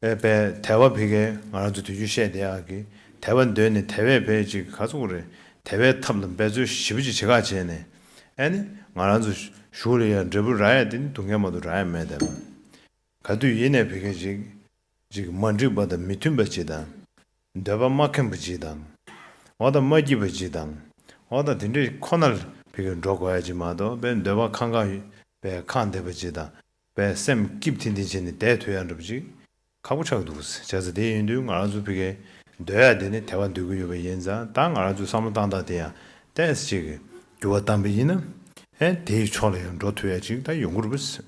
བའི་པའི་དལ་བ་བི་གའི་ང་རང་ཚོ་དུས་རྒྱུན་བཤད་དེ་ཨ་ཀི་དལ་བ་འདོན་ནས་དལ་བའི་བའི་ཅིག་ག་ཚོགས་རེད་དལ་བའི་ཐབས་ལ་འབད་རྩོལ་ཞིབ་པོ་ཅིག་བྱེད་ཁག་བྱས་ནས་ཨ་ནི་ང་རང་ཚོ་ཞུགས་ལ་ཡང་འབྲས་བུ་ར་ཡ་དེ་ནི་དུ་མཁན་མ་དུ་ར་ཡ་མེད་དལ་བ་ག་དུས་ཡིན་ནས་བི་གའི་ཅིག་ཅིག་མ་འགྲིག་པ་དང་མི་མཐུན་པ་ཅིག་དང། འདོད་པ་མ་ཁེངས་པ་ཅིག་དང། འོ་ད་མ་སྐྱིད་པ་ཅིག་དང། འོ་ད་དེ་འདྲས་ཁོ་ན་ལ་བི་གའི་འགྲོ་དགོས་ཡ་ཅིག་མ་གཏོགས་པའི་འདོད་པ་ཁང་ཁང་བའི་ཁང་བདེ་བ་ཅིག་དང་པའི་སེམས་སྐྱིབས་ཐིན་ཐིན་བྱས་ནས་བསྡད་ཐུ་ཡ་འགྲོ་བ་ཅིག། ཁག་པོ་ཆགས་འདུག་བྱ་ས་དེ་ཡིན་དུས་ང་རང་ཚོ་ཕི་གའི་སྡོད་ཡ་དེ་ནི་དེ་བ་འདོད་ཀི་ཡོད་པ་ཡིན་ཙང་ད་ང་རང་ཚོས་བསམ་བློ་བཏང་ཐག་དེ་ཡང་བལྟས་ཅིག་གི་འགྱུར་བ་བཏང་པ་ཡིན་ན་དེའི་ཕྱོགས་ལ་ཡང་འགྲོ་ཐུ་ཡ་ཅིག་ད་ཡོང་གི་རུ་བས།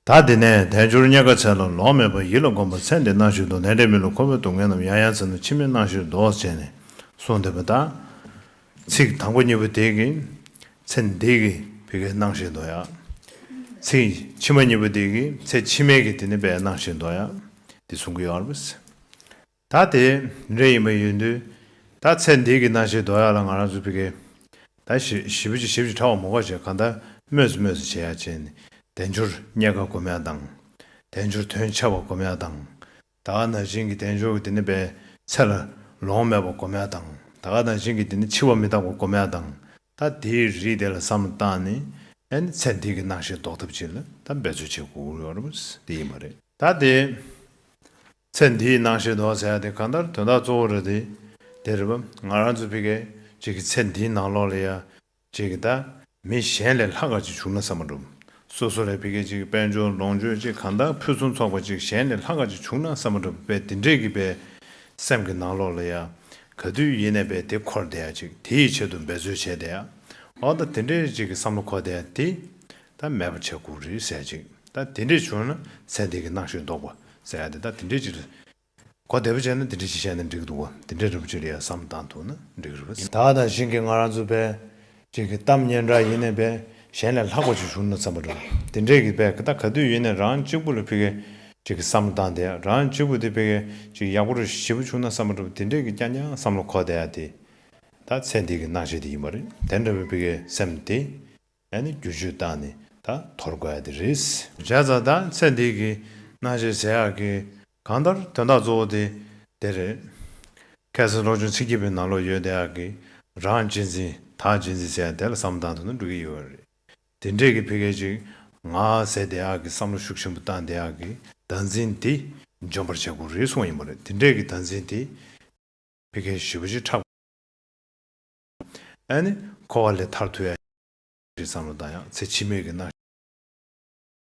ད་དེ་ནས་དལ་འབྱོར་རྙེད་དཀའ་ཚད་ལ་ལོག་མེད་པར་ཡིད་ལ་གོམས་པ་ཚད་འདི་གནང་ཞུས་འདུག་ལན་འབྲས་མི་ལུག་ཁོ་བོས་སྡུག་བསྔལ་རྣམས་ཡང་ཡང་ཚིག་ནང་ཕྱི་མིག་གནང་ཞུས་འདུག་བྱས་ནས་སོང་འདུག་པ་ད་ཚིག་དང་པོ་གཉིས་པོ་དེ་གིས་ཚེ་འདས་ཀྱི་བི་གའི་སྣང་ཞེས་འདོགས། ཡང་ཚིག་ཕྱི་མ་གཉིས་པོ་དེ་གིས་ཚེ་ཕྱི་མའི་གི་དེ་ནི་པའི་སྣང་ཞེས་འདོགས། ཡང་འདི་གསུང་གི་ཡོང་རབས་ཟེར། ད་དེ་འདྲ་ཡིན་པ་ཡོད་དུས་ད་ཚེ་འདས་ཀྱི་སྣང་ཞེས་འདོགས་ཡག་ལ་ང་རང་ཚོའི་བི་གའི་ད་བཞི་བོ་ཅིག་ཞིབ་ཅིག་ཕྲ་བ་མོ་འགོག་བྱེད་གང་ལྟར་སྨོས་སུ་སྨོས་སུ་བྱེད་ཡག་བྱས་ནས་དལ་འབྱོར་རྙེད་དཀའ་སྒོམ་ཡག་དང། དལ་འབྱོར་དོན་ཆེ་བ་སྒོམ་ཡག་དང། ད་ག་ན་བཞིན་གྱི་བདེ་འབྱུང་གི་དེ་ནི་པའི་ཚེར། ལོང་མེད་པར་གོ་མལ་དང། ད་ག་ན་བཞིན་གྱི་དེ་ནི་འཆི་བ་མི་རྟག་པར་གོ་མལ་དང། ད་དེའི་རིས་དེ་ལ་བསམ་བློ་བཏང་ནས། ཨེ་ནི་ཚེ་འདི་གི་སྣང་ཤེས་ཟློག་ཐབས་ཅི་ལ་ད་འབད་རྩོལ་བྱེད་དགོས་ཀྱི་རེད། དེ་ཡིན་པ་རེད། ད་དེ། ཚེ་འདིའི་སྣང་ཤེས་ཟློག་ཟེར་ཡ་དེ་གང་ལྟར་དོན་དག་གཙོ་བོ་རེད་དེ། དེ་རེད་བམ། ང་རང་ཚོ་ཕི་གས་ཅིག་གི་ཚེ་འདིའི་ནང་ལོགས་ལ་ཡ། ཅེས་ཀྱི་བརྡ། མི་གཞན་ལས་ལྷག་ག་ཅིག་བྱུང་ན་ས་མ་འགྲུབ། སོ་སོ་ལས་ཕི་གེ་ཅིག་དཔལ་འབྱོར་ལོངས་སྤྱོད་ཅིག་གང་དག་ཕུན་སུམ་ཚོགས་པ་ཅིག་གཞན་ལས་ལྷག་ག་ཅིག་བྱུང་ན་ས་མ་འགྲུབ་པས་འདི་འདྲས་ཀྱི་པའི། སེམས་ཀྱི་ནང་ལོགས་ལ་ཡ། ག་དུས་ཡེ་ནས་པའི་དེ་འཁོར་བསྡད་ཡ་ཅིག་དེ་ཡི་ཆེད་དུ་འབད་རྩོལ་བྱས་བསྡད་ཡ། འོ་ད་དེ་འདྲས་ཅིག་གི་བསམ་བློ་འཁོར་བསྡད་ཡ་དེ། ད་མེད་པ་ཆེ་ཁུག་རེ་ཟད་ཅིག་ད་དེ་འདྲས་བྱུང་ན་ཚེ་འདི་གི་སྣང་ཤེས་ལྡོག་པ་ཟེར་ཡ་དེ་ད་དེ་འདྲས་ཅིག་རེ། གོ་བདེ་པོ་བྱས་ན་དེ་འདྲ་ཞིག་བཤད་ན་འགྲིག་འདུག་གོ་དེ་འདྲ་རིན་པོ་ཆེ་ལ་ཡང་བསམ་བཏང་ཐུག་ན་འགྲིག་རེད། ད་ལྟ་བཞིན་གྱི་ང་རང་ཚོའི་པས་ཅིག་གི་གཏམ་སྙན་གྲགས་ཡིན་ནས་པས་གཞན་ལས་ལྷག་པ་ཅིག་ཞུ་ན་བསམ་པ་འདྲ། དེ་འདྲས་ཀྱི་པས་ད་ག་དུས་ཡིན་ནས་རང་གཅིག་པུ་ལ་ཕི་གས་ཅིག་གི་བསམ་བློ་བཏང་དེ་རང་གཅིག་པུ་དེ་ཕི་གས་ཅིག་ཡག་པོ་རེ་ཞིག་ཞིབ་པོ་བྱུང་ན་བསམ་པ་འདྲ་དེ་འདྲས་ཀྱི་རྐྱང་རྐྱང་བསམ་བློ་གོ་བདེ་ཡ་དེ་ད་ཚེ་འདི་གི་སྣང་བྱེད་དེ་ཡིན་པ་རེད་དེ་འདྲ་བའི་ཕི་གས་སེམས་དེ་ཡ་ནི་བསྒྱུར་བཅོས་བཏང་ནས་ད་དོར་དགོས་ཡ་དེ་རེད། བྱས་ཙང་ད་ཚེ་འདི་གི་སྣང་བྱེད་ཟེར་ཡག་གི་གང་ལྟར་དོན་དག་གཙོ་བོ་དེ་དེ་རེད། ཁལ་སེ་རོགས་ཆུང་ཚིག་སྐྱིད་པའི་ནང་ལོག་ཡོད་དེ་ཨ་ཀི་རང་ཇི་འཛིན་ད་ཇི་འཛིན་བྱས་ཡང་དེ་ལ་བསམ་བློ་བཏང་ཐུབ་ན་འགྲིག་གི་ཡོད་རེད། དེ་འདྲས་ཀྱི་ཕི་གལ་ཅིག་ང་ཟེར་དེ་ཨ་ཀི་བསམ་བློ་ཤུགས་ཆེན་པོ་བཏང་དེ་ཨ་ཀི་ད་འཛིན་དེ་འཇོན་པར་བྱེད་དགོས་རེད་གསུངས་ཡིན་པ་རེད་དེ་འདྲས་ཀྱི་ད་འཛིན་དེ་ཕི་གལ་ཞི་བ་ཞིག་ཕྲག་ཨེ་ནི་ཁོ་བ་ལས་ཐར་ཐུ་ཨེ་རེད་བསམ་བློ་བཏང་ཡང་ཚེ་ཕྱི་མིག་གི་རྣ།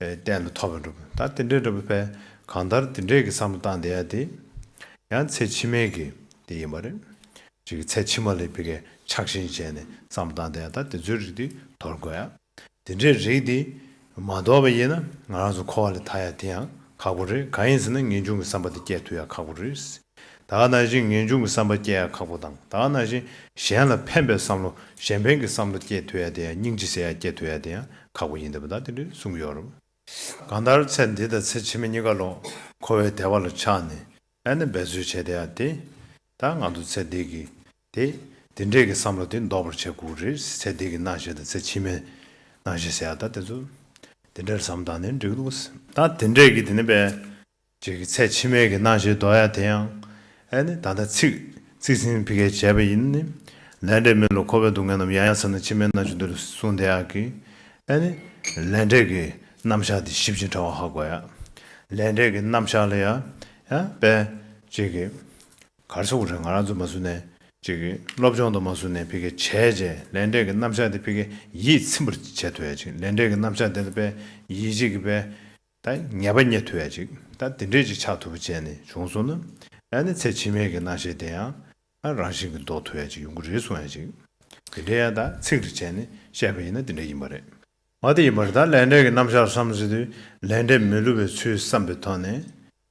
བསྟན་ལ་ཐོབ་པར་འགྲོ། ད་དེ་འདྲའི་འགྲོ་བའི་ཕན་གང་ལྟར་དེ་འདྲས་ཀྱི་བསམ་བློ་བཏང་བསྡད་ཡ་དེ། ཡང་ཚེ་ཕྱི་མའི་གི་དེ་ཡིན་པ་རེད། ཅིག་གི་ཚེ་ཕྱི་མ་ལས་བི་ཀའི་ཆགས་ཞེན་བྱས་ནས་བསམ་བློ་བཏང་བསྡད་ཡ་ད་དེ་ཚོའི་རིགས་དེ་དོར་དགོས་ཡ། དེ་འདྲའི་རིགས་དེ་མ་དོར་བ་ཡིན་ན་ང་རང་ཚོ་འཁོར་བ་ལས་ཐར་ཡ་དེ་ཡང་ཁག་པོ་རེད་གང་ཡིན་ཟེར་ན་ངེས་འབྱུང་གི་བསམ་པ་དེ་སྐྱེ་ཐུབ་ཡ་ཁག་པོ་རེད། དག་ན་བཞིན་ངེས་འབྱུང་གི་བསམ་པ་སྐྱེ་ཡ་ཁག་པོ་དང་དག་ན་བཞིན་གཞན་ལ་ཕན་པའི་བསམ་བློ་གཞན་ཕན་གྱི་བསམ་བློ་སྐྱེ་འཐུས་ཡ་དེ་ཡང་སྙིང་རྗེ་ཟེར་ཡ་སྐྱེ་འཐུས་ཡ་དེ་ཡང་ཁག་པོ་ཡིན་འདི་པ་དག་དེ་འདྲའི་གསུངས་ཡོད་རབས། གང་ལྟར་ཚེ་འདི་དང་ཚེ་ཕྱི་མ་གཉིས་ཀ་ལོག་འཁོར་བའི་བདེ་བ་ལ་ཆགས་ནས་ཨེ་ན་འབད་རྩོལ་བྱས་དེ་ཡ་དེ། ད་ང་ཚོ་ཚེ་འདི་གི། དེ། འདི་འདྲས་ཀྱི་བསམ་བློ་དེ་འདོར་བར་བྱེད་དགོས་རེད་ཚེ་འདི་གི་རྣ་ཞེས་དང་ཚེ་ཕྱི་མའི་རྣ་ཞེས་ཟེར་ཡ་དག་དེ་ཚོ། དེ་འདྲས་བསམ་དང་ནི་འགྲིག་འདུག་ད་དེ་འདྲས་ཀྱི་དེ་ནི་པའི། རྗེས་ཀྱི་ཚད་ཕྱི་མའི་གི་སྣང་ཞེས་འདོགས་ཡ་དེ་ཡང། ཨེ་ནི་ད་ལྟ་ཚིག། ཚིག་ཟིན་ཕི་ཀའི་བྱས་པ་ཡིན་ནི། ལས་འབྲས་མི་ལ་འཁོར་བའི་སྡུག་བསྔལ་རྣམས་ཡང་ཡང་ཚང་ནས་ཕྱི་མའི་སྣང་ཆུ་འདི་རུ་གསུངས་དེ་ཡང་གི། ཨེ་ནི། ལས་འབྲས་ཀྱི་རྣམ་གཞག་འདི་ཞིབ་ཅིང་ཕྲ་བ་ཧ་གོ་ཡ། ལས་འབྲས་ཀྱི་རྣམ་གཞག་ལ་ཡ། ཡ། པས། རྗེས་ཀྱི། གར་སོགས་རེ་ང་རང་ཚོ་མ་བཟུང་ནས། རྗེས་ཀྱི། སློབ་སྦྱོང་དང་མ་བཟུང་ནས་ཕི་ཀའི་བྱས་རྗེས་ལས་འབྲས་ཀྱི་རྣམ་གཞག་འདི་ཕི་ཀའི་ཡིད་ཚིམ་པར་བྱེད་ཐུབ་ཡ། ཅིག་ལས་འབྲས་ཀྱི་རྣམ་གཞག་འདི་ལ་པས། ཡིད། རྗེས་ཀྱི་པས། ད་ངེས་པ་རྙེད་ཐུབ་ཡ་ཅིག་ད་དེ་འདྲས་ཅིག་ཆགས་ཐུབ་པ་བྱས་ནས་བྱུང་སོང་ན། ད་ནི་ཚེ་ཕྱི་མའི་གི་སྣང་ཤེས་དེ་ཡང་ཨ་རང་བཞིན་གི་འདོགས་ཐུབ་ཡ་ཅིག་ཡོང་གི་རེད་གསུང་ཡ་ཅིག། དེ་འདྲས་ཡ་ད་ཚིག་རེ་བྱས་ནས་བཤད་པ་ཡིན་ན་དེ་འདྲས་ཡིན་པ་རེད། མ་དེ་ཡིན་པར་ད་ལས་འབྲས་ཀི་རྣམ་གཞག་བསམ་ཟིན་དུས་ལས་འབྲས་མི་བསླུ་བའི་ཚུལ་བསམ་པའི་ཐོག་ནས།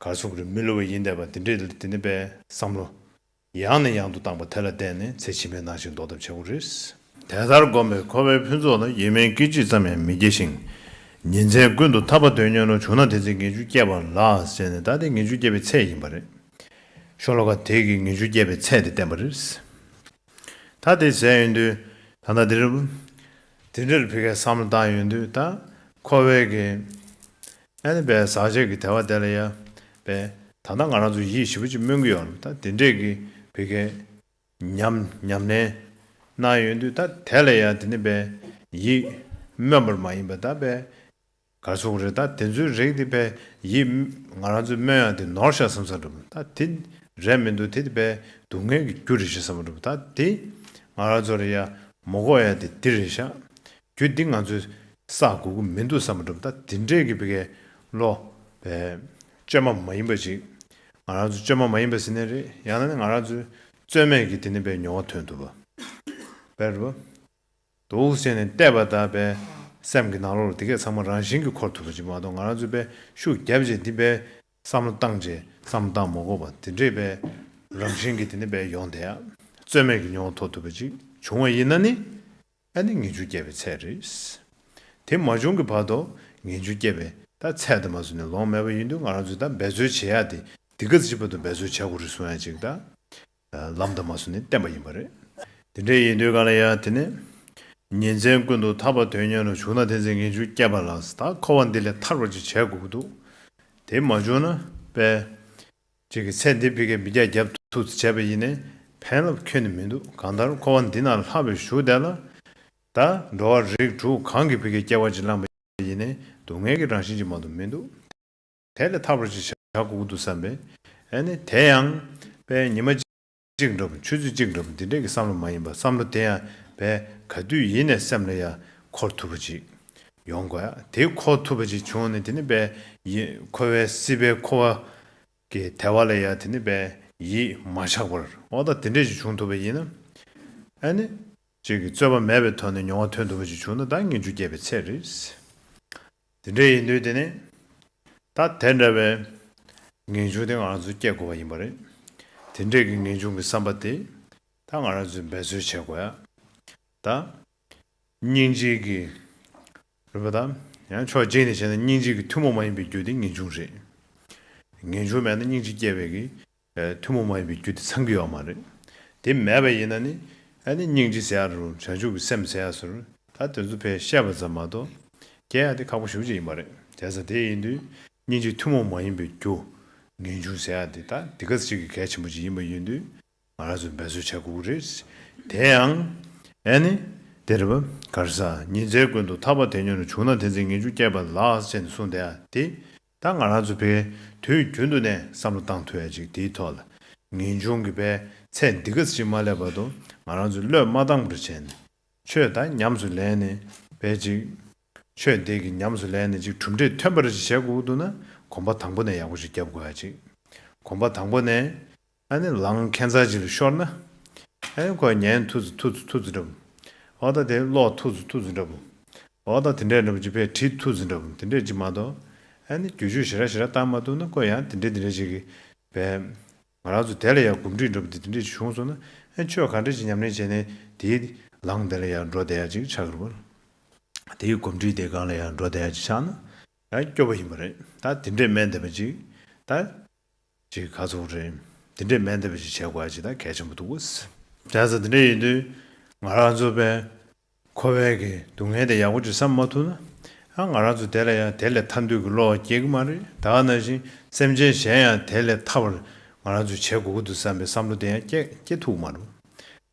གར་སོང་གིར་མི་ལུས་བ་ཡིན་འདས་པ་འདི་འདྲས་དེ་ནི་པས། བསམ་བློ། ཡང་ནས་ཡང་དུ་བཏང་པ་དེ་ལ་བརྟེན་ནས་ཚེ་ཕྱི་མའི་ནང་བཞིན་འདོར་ཐབས་བྱ་དགོས་རེད། དེ་ལྟར་བསྒོམས་པས་ཁོ་བོའི་ཕུན་ཚོགས་ལ་ཡེ་མེའི་སྐད་ཅིག་ཙམ་ཡང་མི་སྐྱེ་ཞིང། ཉིན་མཚན་ཀུན་ཏུ་ཐར་པ་དོན་གཉེར་ནོར་བྱུང་ན་དེ་ཚེ་ངེས་འབྱུང་སྐྱེས་པ་ལགས་ཟེར་ནས་ད་ལྟའི་ངེས་འབྱུང་སྐྱེས་པའི་ཚད་ཡིན་པ་རེད། ཤོ་ལོ་ཀ་དེས་ཀྱི་ངེས་འབྱུང་སྐྱེས་པའི་ཚད་དེ་བསྟན་པ་རེད། ད་དེ་ཟེར་ཡོང་དུས། ད་ལྟ་འདིར། དེ་འདྲར་ཕི་ཁའི་བསམ་བློ་བཏང་ཡོང་དུས་ད། ཁོ་བོའི་གི། ཨན་པའི་ཟག་བཅས་ཀྱི་དལ་བ་དེ་ལ་ཡང་པས། ད་ལྟ་ང་རང་ཚོ་ཡིད་ཞིབ་པོ་ཅིག་སྨོན་གྱི་ཡོད་ལ་ད་དེ་འདྲས་ཀྱི་བོད་སྐད། ཉམས། ཉམས་ལེན། གནང་ཡོད་དུས་ད་དེ་ལ་ཡང་དེ་ནི་པས། ཡིད། སྨོན་པར་མ་ཡིན་པ་ད་པས། གར་སོང་རེད་ད་དེ་ཚོའི་རིགས་དེ་པས། ཡིད། ང་རང་ཚོའི་སྨོན་ཡང་དེ་ནོར་ཤ་བསམ་ས་འགྲུབ་ད་དེ། རེད་མི་འདུག་དེ་དེ་པས། སྡུག་བསྔལ་གྱི་རྒྱུ་རེད་ཤ་བསམ་འགྲུབ་ད་དེ། ང་རང་ཚོ་རེད་ཡ། མོ་ཀོག་ཡ་དེ་དེ་རེད་ཤ། རྒྱུ་འདི་ང་ཚོས་བསགས་དགོས་ཀྱི་མི་འདུག་བསམ་པ་གྲུབ་མཐའ་འདི་འདྲས་ཀྱི་བེ་གའི་བློ། བེ། བཅོས་མ་མ་ཡིན་པ་ཅིག། ང་རང་ཚོ་བཅོས་མ་མ་ཡིན་པ་ཟིན་ནས་རེད་ཡང་ན་ནི་ང་རང་ཚོའི་རྩོད་མེད་ཀྱི་དེ་ནི་བེའི་མྱོང་བ་ཐོན་ཐུབ་པ། བེ། འདུག་ཟེར་ནས་བལྟས་པ་དང་བེའི་སེམས་ཀྱི་ནང་ལོགས་ལ་དེ་གས་ཚང་མ་རང་བཞིན་གྱིས་འཁོར་ཐུབ་པ་ཅིག་མ་གཏོགས་ང་རང་ཚོས་བེ་ཤུགས་རྒྱབ་རྗེས་འདི་བེའི་བསམ་བློ་བཏང་རྗེས། བསམ་བློ་བཏང་མ་གོ་བ་འདི་འདྲས་བེའི་རང་བཞིན་གྱི་དེ་ནི་བེའི་ཡོང་དེ་ཡང་རྩོད་མེད་ཀྱི་མྱོང་བ་ཐོག་ཐུབ་པ་ཅིག་བྱུང་བ་ཡིན་ན་ནི། ད་ནི་ངེས་འབྱུང་སྐྱེ་བའི་ཚད་རེད། དེ་མ་བྱུང་གི་བར་དུ་ངེས་འབྱུང་སྐྱེ་བའི། ད་ཚད་དུ་མ་བཟོས་ནས་ལོང་མེད་པ་ཡིན་དུས་ང་རང་ཚོས་ད་འབད་རྩོལ་བྱེད་ཡག་དེ་འདི་ག་ཅིག་པ་དུ་འབད་རྩོལ་བྱ་དགོས་རེད་གསུང་ཡག་ཅིག་ད། ལམ་ད་མ་བཟོས་ནས་བསྟན་པ་ཡིན་པ་རེད། དེ་འདྲ་ཡིན་དུས་ག་ལ་ཡག་དེ་ནི། ཉིན་མཚན་ཀུན་ཏུ་ཐར་པ་དོན་གཉེར་ལ་ཞུགས་ན་དེ་ཚེ་ངེས་འབྱུང་སྐྱེ་བ་ལགས་ད་འཁོར་བ་འདི་ལས་ཐར་བ་ཅིག་བྱེད་དགོས་ཀྱི་འདུག་དེ་མ་བྱུང་ན་དཔེ། ཅིག་གི་ཚད་འདི་བི་ཀའི་བི་རྒྱ་རྒྱབ་ཐུག་ཏུ་བྱས་པ་ཡིན་ནས་ཕན་རླབས་ཁྱོན་ནས་མི་འདུག་གང་ལྟར་འཁོར་བ་འདི་ན་ལྷག་པའི་ཞུགས་བསྡད་ལ། ད་འགྲོ་བ་རིགས་དྲུག་གང་གིས་བི་ཀའི་སྐྱེ་བ་ཅིག་བླངས་པ་ཡིན་ནས་སྡུག་བསྔལ་གྱི་རང་བཞིན་ཅིག་མ་གཏོགས་མི་འདུག་དེ་ལས་ཐར་བར་ཅིག་བྱ་དགོས་ཀྱི་འདུག་བསམ་པས། ཨ་ནི་དེ་ཡང། པའི་ཉི་མ། གཅིག་འགྲོ་བ་ཆོས་ཚུལ་གཅིག་འགྲོ་བ་འདི་འདྲ་གི་བསམ་བློ་མ་ཡིན་པར་བསམ་བློ་དེ་ཡང་བས་ག་དུས་ཡིན་ནས་སེམས་ལ་ཡང་འཁོར་ཐུབ་པ་ཅིག་ཡོང་དགོས་ཡ་དེ་འཁོར་ཐུབ་པ་ཅིག་བྱུང་ནས་དེ་ནི་བས་ཡིད་འཁོར་བའི་སྲིད་པའི་འཁོར་བ་གི་དལ་བ་ལ་ཡང་དེ་ནི་བས་ཡིད་མ་ཆགས་པར་འོ་ད་དེ་འདྲ་ཞིག་བྱུང་ཐུབ་པ་ཡིན་ན་ཨ་ནི་ཅིག་གི་རྩོད་པ་མེད་པའི་ཐོག་ནས་མྱོང་བ་ཐོན་ཐུབ་པ་ཅིག་བྱུང་ན་ད་ངེས་འབྱུང་སྐྱེས་པའི་ཚད་རེད། དེ་འདྲ་ཡིན་དུས་དེ་ནས་ད་དེ་འདྲ་བའི་ངེས་འབྱུང་དེ་ང་རང་ཚོས་བསྐྱེད་དགོས་པ་ཡིན་པ་རེད། དེ་འདྲས་ཀྱི་ངེས་འབྱུང་གི་བསམ་པ་དེ་ད་ང་རང་ཚོས་འབད་རྩོལ་བྱེད་དགོས་ཡ། ད། སྙིང་རྗེ་གི། རེད་པ་ད། ཡང་ཕྱོགས་གཅིག་ནས་བྱས་ན་སྙིང་རྗེ་གི་ཐུན་མོང་མ་ཡིན་པའི་རྒྱུ་དེ་ངེས་འབྱུང་རེད། ངེས་འབྱུང་མེད་ན་སྙིང་རྗེ་སྐྱེ་བའི་གི་ཐུན་མོང་མ་ཡིན་པའི་རྒྱུ་དེ་ཚང་གི་ཡོད་མ་རེད། དེ་མེད་པ་ཡིན་ན་ནི། ཨ་ནི་སྙིང་རྗེ་ཟེར་ཡ་རུང་བྱང་ཆུབ་ཀྱི་སེམས་ཟེར་ཡ་ཟུར། ད་དོན་རྩོམ་པས་བཤད་པ་ཙམ་མ་གཏོགས། རྒྱལ་ཡ་དེ་ཁག་པོ་ཞུགས་ཅིག་ཡིན་པ་རེད། དེ་ས་དེ་ཡིན་དུས། སྙིང་རྗེ་ཐུན་མོང་མ་ཡིན་པའི་རྒྱུ། ངེས་འབྱུང་ཟེར་ཡ་དེ་ད་དེ་ག་ཅིག་གི་གལ་ཆེན་པོ་ཅིག་ཡིན་པ་ཡིན་དུས། ང་རང་ཚོས་འབད་རྩོལ་བྱེད་དགོས་ཀྱི་རེད། དེ་ཡང། ཨ་ནི། དེ་རེད། གར་ས། ཉིན་མཚན་ཀུན་ཏུ་ཐར་པ་དེ་ཉོན་རུ་བྱུང་ན་དེ་ཚེ་ངེས་འབྱུང་སྐྱེས་པ་ལགས་ཅན་གསུངས་དེ་ཡ་དེ། ད་ང་རང་ཚོ་བས་དུས་རྒྱུན་དུ་ནས་བསམ་བློ་བཏང་ཐུབ་ཡ་ཅིག་དེའི་ཐོག་ལ། ངེས་འབྱུང་གི་བས་ཚད་འདི་ག་ཅིག་མ་སླེབས་བར་དུ་ང་རང་ཚོས་བློས་མ་བཏང་བར་བྱས་ནས། ཆོས་དང་ཉམས་སུ་ལེན་ནས་བས་ཅིག། ཆོས་དེ་གི་ཉམས་སུ་ལེན་ནས་ཅིག་གྲུབ་འབྲས་ཐོན་པ་རེ་ཅིག་བྱས་གོ་དགོས་འདུག་ན་གོམ་པ་དང་པོ་ནས་ཡག་པོ་ཞིག་རྒྱབ་དགོས་ཡ་ཅིག། གོམ་པ་དང་པོ་ནས། ཨ་ནི་ལང་ཁན་ཚ་ཅིག་ལ་ཤོར་ན། ཨ་ཡོ་ཁོ་ཉན་ཐུ་ཙི་ཐུ་ཙི་ཐུ་ཙི་འདྲ་བུ། ཨོ་ད་དེ་ལོག་ཐུ་ཙི་ཐུ་ཙི་འདྲ་བུ། ཨོ་ད་དེ་འདྲས་འདྲ་བུ་ཅི་ཕེ་དྲི་ཐུ་ཙི་འདྲ་བུ་དེ་འདྲས་ཅིག་མ་གཏོགས་ཨ་ནི་རྒྱུ་ཆོས་ཞེ་ར་ཞེ་ར་བཏང་མ་ཐུབ་ན་ཀོ་ཡང་དེ་འདྲས་དེ་འདྲས་ཅིག་གི་བས། ང་རང་ཚོ་དེ་ལ་ཡང་གོམས་འདྲིས་འདྲ་བུ་དེ་དེ་འདྲས་ཅིག་བྱུང་སོང་ན་ཨ་ཆོས་ག་འདྲས་ཅིག་ཉམས་ལེན་བྱས་ནས་དེའི་ལང་དེ་ལ་ཡང་འགྲོ་བསྡད་ཡ་ཅིག་ཆགས་རུང། དེའི་གོམས་འདྲིས་དེའི་སྒང་ལ་ཡང་འགྲོ་བསྡད་ཡ་ཅིག་ཆགས་ན་ད་སྐྱོ་བོ་ཡིན་པ་རེད་ད་དེ་འདྲས་སྨན་བསྡད་པ་ཅིག་ད། ཅིག་ཁ་ཚུགས་རེད། འདི་འདྲའི་སྨན་འདེབས་ཅིག་བྱེད་དགོས་ཀྱི་ད་གལ་ཆེན་པོ་འདུག། བྱས་ཙང་འདི་འདྲ་ཡིན་དུས། ང་རང་ཚོ་བན། ཁོ་བན་གྱི་སྡུག་བསྔལ་དེ་ཡག་པོ་ཅིག་བསམ་མ་ཐུབ་ན། ཡང་ང་རང་ཚོ་དེ་ལ་ཡང་དེ་ལས་ཐར་འདོད་ཀྱི་བློ་སྐྱེ་གི་མ་རེད་ད་ནང་བཞིན་སེམས་ཅན་གཞན་ཡང་དེ་ལས་ཐར་བར་ང་རང་ཚོས་བྱེད་དགོས་ཀྱི་འདུག་བསམ་པའི་བསམ་བློ་དེ་ཡང་སྐྱེ་ཐུབ་ཀྱི་མ་རུང།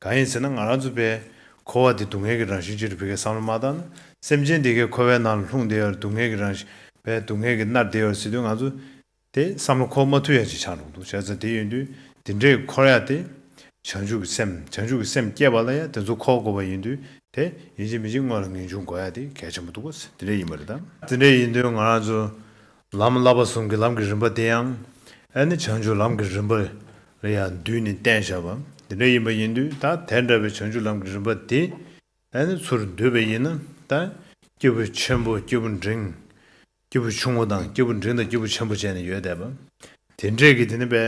གང་ཡིན་ཟེར་ན་ང་རང་ཚོ་བན། ཁོ་བ་དེ་སྡུག་བསྔལ་གྱི་རང་བཞིན་ཅིག་རེད་བི་ཁའི་བསམ་བློ་མ་བཏང་ན་སེམས་ཅན་དེ་གས་ཁོ་བའི་ནང་ལ་ལྷུང་བསྡད་ཡོད་རེད་སྡུག་བསྔལ་གྱི་རང་བཞིན་བན་སྡུག་བསྔལ་གྱི་མནར་བསྡད་ཡོད་རེད་ཟེར་དུས་ང་ཚོ། དེ་བསམ་བློ་ཁོག་མ་ཐུག་ཡ་ཅིག་ཆགས་འགྲོ་འདུག་བྱས་ཙང་དེ་ཡིན་དུས་དེ་འདྲས་འཁོར་ཡ་དེ། བྱང་ཆུབ་ཀྱི་སེམས་བྱང་ཆུབ་ཀྱི་སེམས་སྐྱེས་པ་ལ་ཡང་དེ་ཚོ་ཁོག་དགོས་པ་ཡིན་དུས་དེ། ཡིན་གཅིག་མིན་གཅིག་དངོས་ལ་ངེས་འབྱུང་དགོས་ཡ་དེ་གལ་ཆེན་པོ་འདུག་གོ་དེ་འདྲས་ཡིན་པ་རེད་དམ། དེ་འདྲས་ཡིན་དུས་ང་རང་ཚོ། ལམ་བསླབ་པ་ཟུང་གི་ལམ་གྱི་རིམ་པ་དེ་ཡང། ཨེ་ནི་བྱང་ཆུབ་ལམ་གྱི་རིམ་པ། ལ་ཡང་འདུས་ནས་བསྟན་བཞག་པ། དེ་འདྲས་ཡིན་པ་ཡིན་དུས་ད་དེ་འདྲ་བའི་བྱང་ཆུབ་ལམ་གྱི་རིམ་པ་དེ། ཨ་ནི་ཚུར་འདུས་པ་ཡིན་ནམ་དང། སྐྱེས་བུ་ཆེན་པོ་སྐྱེས་བུ་འབྲིང། སྐྱེས་བུ་ཆུང་ངུ་དང་སྐྱེས་བུ་འབྲིང་དང་སྐྱེས་བུ་ཆེན་པོ་བཅས་ནི་ཡོད་དད་པ། དེ་འདྲས་ཀྱི་དེ་ནི་པའི།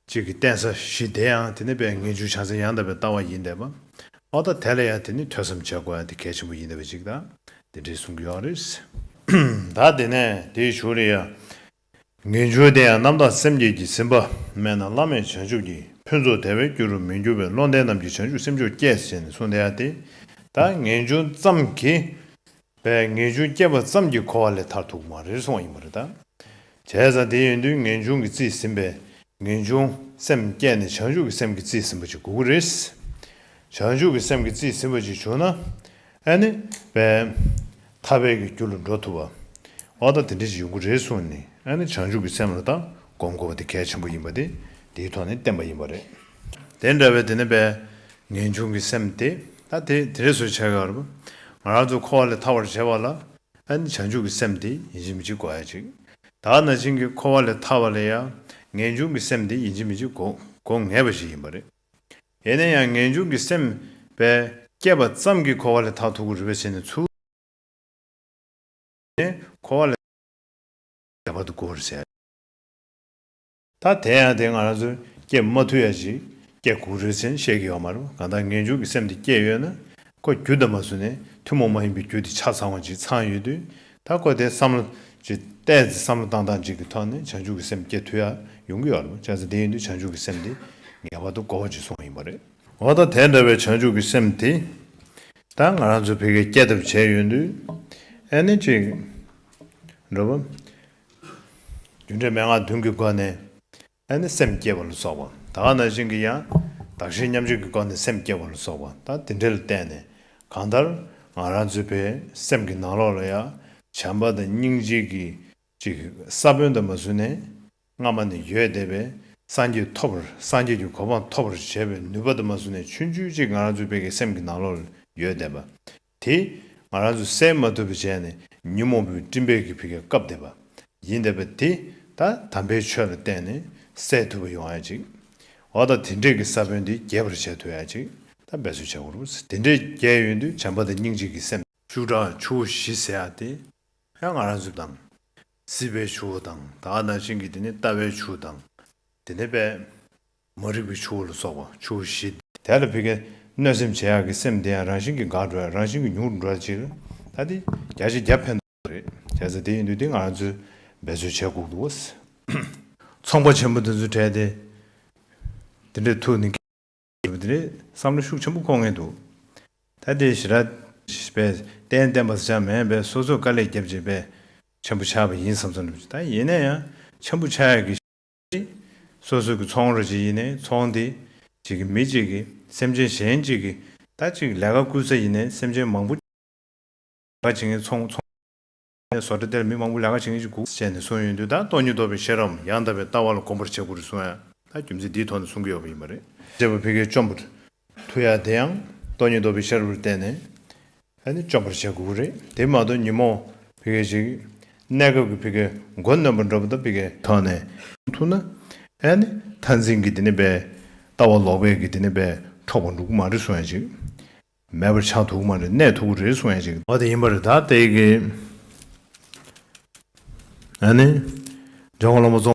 གཅིག་གི་བསྟན་ས་བཞི་དེ་ཡང་དེ་ནི་པའི་ངེས་འབྱུང་བྱང་སེམས་ཡང་དག་པའི་ལྟ་བ་ཡིན་དད་པ། ཨོ་ད་དེ་ལ་ཡང་དེ་ནི་ཐོས་བསམ་བྱེད་དགོས་ཡང་དེ་གལ་ཆེན་པོ་ཡིན་དད་པ་གཅིག་དང། དེ་འདྲས་གསུངས་ཀྱི་ཡོག་རེད། ད་དེ་ནས་དེའི་ཞུ་རེ་ཡ། ངེས་འབྱུང་དེ་ཡང་རྣམ་དག་སེམས་བསྐྱེད་ཀྱིས་ཟིན་པ་མེད་ན་བླ་མེད་བྱང་ཆུབ་ཀྱི་ཕུན་ཚོགས་དལ་བའི་རྒྱུ་རུ་མི་འགྱུར་བས་བློ་ལྡན་རྣམས་ཀྱིས་བྱང་ཆུབ་སེམས་མཆོག་བསྐྱེད་ཅེས་ནི་གསུངས་བསྡད་ཡ་སྟེ། ད་ངེས་འབྱུང་ཙམ་གྱིས་པས་ངེས་འབྱུང་བསྐྱེད་པ་ཙམ་གྱིས་གོ་བ་ལས་མཐར་ཐུག་མ་རེད་གསུང་བ་ཡིན་པ་རེད་ད། བྱས་ཙང་དེ་ཡིན་དུས་ངེས་འབྱུང་གིས་བརྩིས་ཟིན་པས་ངེས་འབྱུང་སེམས་བསྐྱེད་ནི་བྱང་ཆུབ་ཀྱི་སེམས་ཀྱིས་བརྩིས་ཟིན་པ་ཅིག་དགོས་ཀྱི་རེད། བྱང་ཆུབ་ཀྱི་སེམས་ཀྱིས་བརྩིས་ཟིན་པ་ཅིག་བྱུང་ན། ཨ་ནི། བས། ཐ་བས་ཀྱི་རྒྱུ་ལ་འགྲོ་ཐུབ་བམ། ཨོ་ད་དེ་འདྲའི་ཞིག་ཡོང་གི་རེད་གསུངས་ནས་ཨ་ནི་བྱང་ཆུབ་ཀྱི་སེམས་ལ་ད་སྒོམ་དགོས་པ་དེ་གལ་ཆེན་པོ་ཡིན་པ་དེ་འདིའི་ཐོག་ནས་བསྟན་པ་ཡིན་པ་རེད། དེ་འདྲ་བས་དེ་ནི་བས། ངེས་འབྱུང་གི་སེམས་དེ་ད་དེ་དེ་རེད་བཟོ་བྱས་ཀར། ང་རང་ཚོ་འཁོར་བ་ལས་ཐར་བར་བྱེད་པ་ལ། ཨ་ནི་བྱང་ཆུབ་ཀྱི་སེམས་དེ་ཡིན་གཅིག་མི་གཅིག་གོ་ཧ་ཅིག། ད་ན་བྱིངས་ཀྱི་འཁོར་བ་ལས་ཐར་བ་ལ་ཡང་ངེས་འབྱུང་གི་སེམས་དེ་ཡིན་གཅིག་མི་གཅིག་གོ་གོ་ངེས་པ་ཞིག་ཡིན་པ་རེད། ཡེ་ནས་ཡང་ངེས་འབྱུང་གི་སེམས། བས། སྐྱེས་པ་ཙམ་གྱིས་འཁོར་བ་ལས་ཐག་ཐུག་གི་རུས་པའི་ཕྱེད་ནི་ཚུལ། ནི། འཁོར་བ་ལས། ཁྱད་པར་དུ་གོ་བར་བྱས། ད་དེ་ཡང་དེ་སྔ་རང་ཚུལ། སྐྱེས་མ་ཐུག་ཡ། ཅིག་སྐྱེས་གུག་རུས་ཆེན་བཤད་ཀྱི་ཡོག་མ་རུ་གང་ལྟར་ངེས་འབྱུང་གི་སེམས་དེ་སྐྱེས་ཡོད་ན། ཀོ་རྒྱུ་འདི་མ་བཟོས་ནས་ཐུན་མོང་མ་ཡིན་པའི་རྒྱུ་དེ་ཆ་ཚང་བ་ཅིག་ཚང་ཡོད་དུས་ད་ཀོ་དེ་བསམ་བློ་ཅིག་བལྟས་ཚེ་བསམ་བློ་བཏང་སྟངས་ཅིག་གི་ཐོག་ནས་བྱང་ཆུབ་ཀྱི་སེམས་བསྐྱེད་ཐུབ་ཡ་ཡོང་གི་ཡོད་རེད་མོད་བྱས་ཚེ་དེ་ཡིན་དུས་བྱང་ཆུབ་ཀྱི་སེམས་དེ་ངེས་པར་དུ་གོ་བ་ཅིག་སོང་བ་ཡིན་པ་རེད། འོ་ད་དེ་འདྲ་བའི་བྱང་ཆུབ་ཀྱི་སེམས་དེ་ད་ང་རང་ཚོས་བོད་སྐད་སྐྱེད་ཐབས་བྱས་ཡོད་དུས་ཨེ་ནི་ཅིག་འགྲོ་བ། རྒྱུ་འབྲས་མན་ངག་བདུན་གྱི་སྒོ་ནས། ཨ་ནི་སེམས་བསྐྱེད་པ་ལ་སོགས་པ་དག་རྣམས་བཞིན་གྱི་ཡང་དག་ཞིང་མཉམ་རྗེས་ཀྱི་སྒོ་ནས་སེམས་བསྐྱེད་པ་ལ་སོགས་པ་དག་དེ་འདྲ་ལ་བརྟེན་ནས་གང་ལྟར་ང་རང་ཚོའི་བའི་སེམས་ཀྱི་ནང་ལོགས་ལ་ཡང་བྱམས་པ་དང་སྙིང་རྗེ་གྱི་ཅིག་ས་བོན་དུ་མ་བཟུང་ནས་སྔ་མ་ནས་ཡོད་བསྡད་པའི་སངས་རྒྱས་ཐོབ་པར་སངས་རྒྱས་ཀྱི་གོ་འཕང་ཐོབ་པར་བྱེད་པའི་ནུས་པ་དུ་མ་བཟུང་ནས་ཆུང་ཆུང་ཅིག་ང་རང་ཚོའི་བའི་གི་སེམས་ཀྱི་ནང་ལོགས་ལ་ཡོད་བསྡད་པ་དེ། ང་རང་ཚོས་བསལ་མ་ཐུབ་པའི་བྱས་ནས་ཉོན་མོངས་པའི་སྤྲིན་བལ་གྱིས་ཕུད་ཀྱི་སྐབས་འདས་པ། ཡིན་འདས་པ་དེ། ད་དམ་པའི་ཆོས་ལ་བརྟེན་ནས་སེལ་ཐུབ་པ་ཡོང་ཡ་ཅིག། འོ་ད་དེ་འདྲས་ཀྱི་ས་བོན་དེ་རྒྱས་པར་བྱས་ཐུབ་ཡ་ཅིག་ད་འབད་བརྩོན་བྱེད་དགོས། དེ་འདྲས་རྒྱས་ཡོད་དུས་བྱམས་པ་དང་སྙིང་རྗེ་གྱི་སེམས། བཅུ་དྲག་ཆུ་བོ་བཞི་ཟེར་ཡ་དེ། ཡང་ང་རང་ཚོས་དང། སྲིད་པའི་ཆུ་བོ་དང། ད་ཨ་ནང་བྱིངས་ཀྱི་དེ་ནི་ལྟ་བའི་ཆུ་དང། དེ་ནི་དཔལ། མ་རིག་པའི་ཆུ་བོ་ལ་སོགས་པ་ཆུ་བོ་བཞི། དེ་ལ་ཕི་ཀའི། གནོད་སེམས་བྱེད་ཡག་གི་སེམས་དེ་ཡང་རང་བཞིན་གྱི་འགག་འགྲོ་ཡང་རང་བཞིན་གྱི་མྱུར་འགྲོ་ཅིག། ད་དེ་བརྒྱ་ཆ་བརྒྱ་ཕན་ཐོགས་རེད། བྱས་ཚེ་དེ་ཡིན་དུས་དེ་ང་རང་ཚོས་འབད་རྩོལ་བྱས་ཁུག་འདུག། ཚོང་པ་ཆེན་པོ་དེ་ཚོ་བྲལ་ཏེ། དེ་འདྲའི་ཐུགས་ནི་སྐྱེ། ཞེས་པ་དེ་རེད། བསམ་བློ་ཤུགས་ཆེན་པོ་འཁོར་ངེས་འདུག། ད་དེ་ཞི་ར། པས་གཏན་གཏན་པ་ཟེར་བྱ་མེད་པས་སོ་སོས་དཀའ་ལས་བརྒྱབ་རྗེས་པས། ཆེན་པོ་ཆགས་པ་ཡིན་བསམ་བསམ་འགྲུབ་ཅིག་ད་ཡིན་ན་ཡང་ཆེན་པོ་ཆགས་ཡག་གི། སོ་སོ་གི་ཚོང་ར་ཞིག་ཡིན་ནའི་ཚོང་དེ་གཅིག་གི་མི་གཅིག་གི་སེམས་ཅན་གཞན་གཅིག་གི་ད་ཅིག་ལས་ཀ་བསྐུལ་ས་ཡིན་ནའི་སེམས་ཅན་མང་པོ་ལས་ཀ་བྱེད་མཁན་ཚོང་ར་ཡིན་ནའི་བཟོ་གྲ་དེར་མི་མང་པོ་ལས་ཀ་བྱེད་མཁན་གཅིག་དགུ་བྱས་ནས་གསུངས་ཡོད་དུས་ད་སྟོང་ཉིད་རྟོགས་པའི་ཤེས་རབ་ཡང་དག་པའི་ལྟ་བ་ལ་གོམས་པར་བྱེད་དགོས་རེད་གསུངས་ཡང་ད་རྒྱུ་མཚན་འདིའི་ཐོག་ནས་གསུང་གི་ཡོད་པ་ཡིན་པ་རེད། བྱས་པ་ཕི་གའི་བཅོམ་པོ། ཐུ་ཡ་དེ་ཡང་སྟོང་ཉིད་རྟོགས་པའི་ཤར་བུར་བསྟན་ནས་ཨ་ནི་བཅོམ་པར་བྱ་དགོས་རེད་དེ་མ་གཏོགས་ཉིན་མོ་བི་གའི་ཞིག་གནས་སྐབས་ཀྱི་བི་གའི་མགོ་རྣོན་པོ་འགྲོ་བ་དང་བི་གའི་ཐོག་ནས་ཐུག་ན་ཨ་ནི་མཐར་འཛིན་གྱི་དེ་ནི་པའི་ལྟ་བ་ལོག་པའི་གི་དེ་ནི་པའི་འཕྲོག་པ་འགྲོ་གི་མ་རེད་གསུང་ཡ་ཅིག་མེད་པར་ཆགས་ཐུག་གི་མ་རེད་གནས་ཐུག་གི་རེད་གསུང་ཡ་ཅིག། འོ་དེ་ཡིན་པ་རེད་ད་ལྟའི་གི་ཨ་ནི་ཇོ་ཁོ་ལོ་མོ་རྫོང།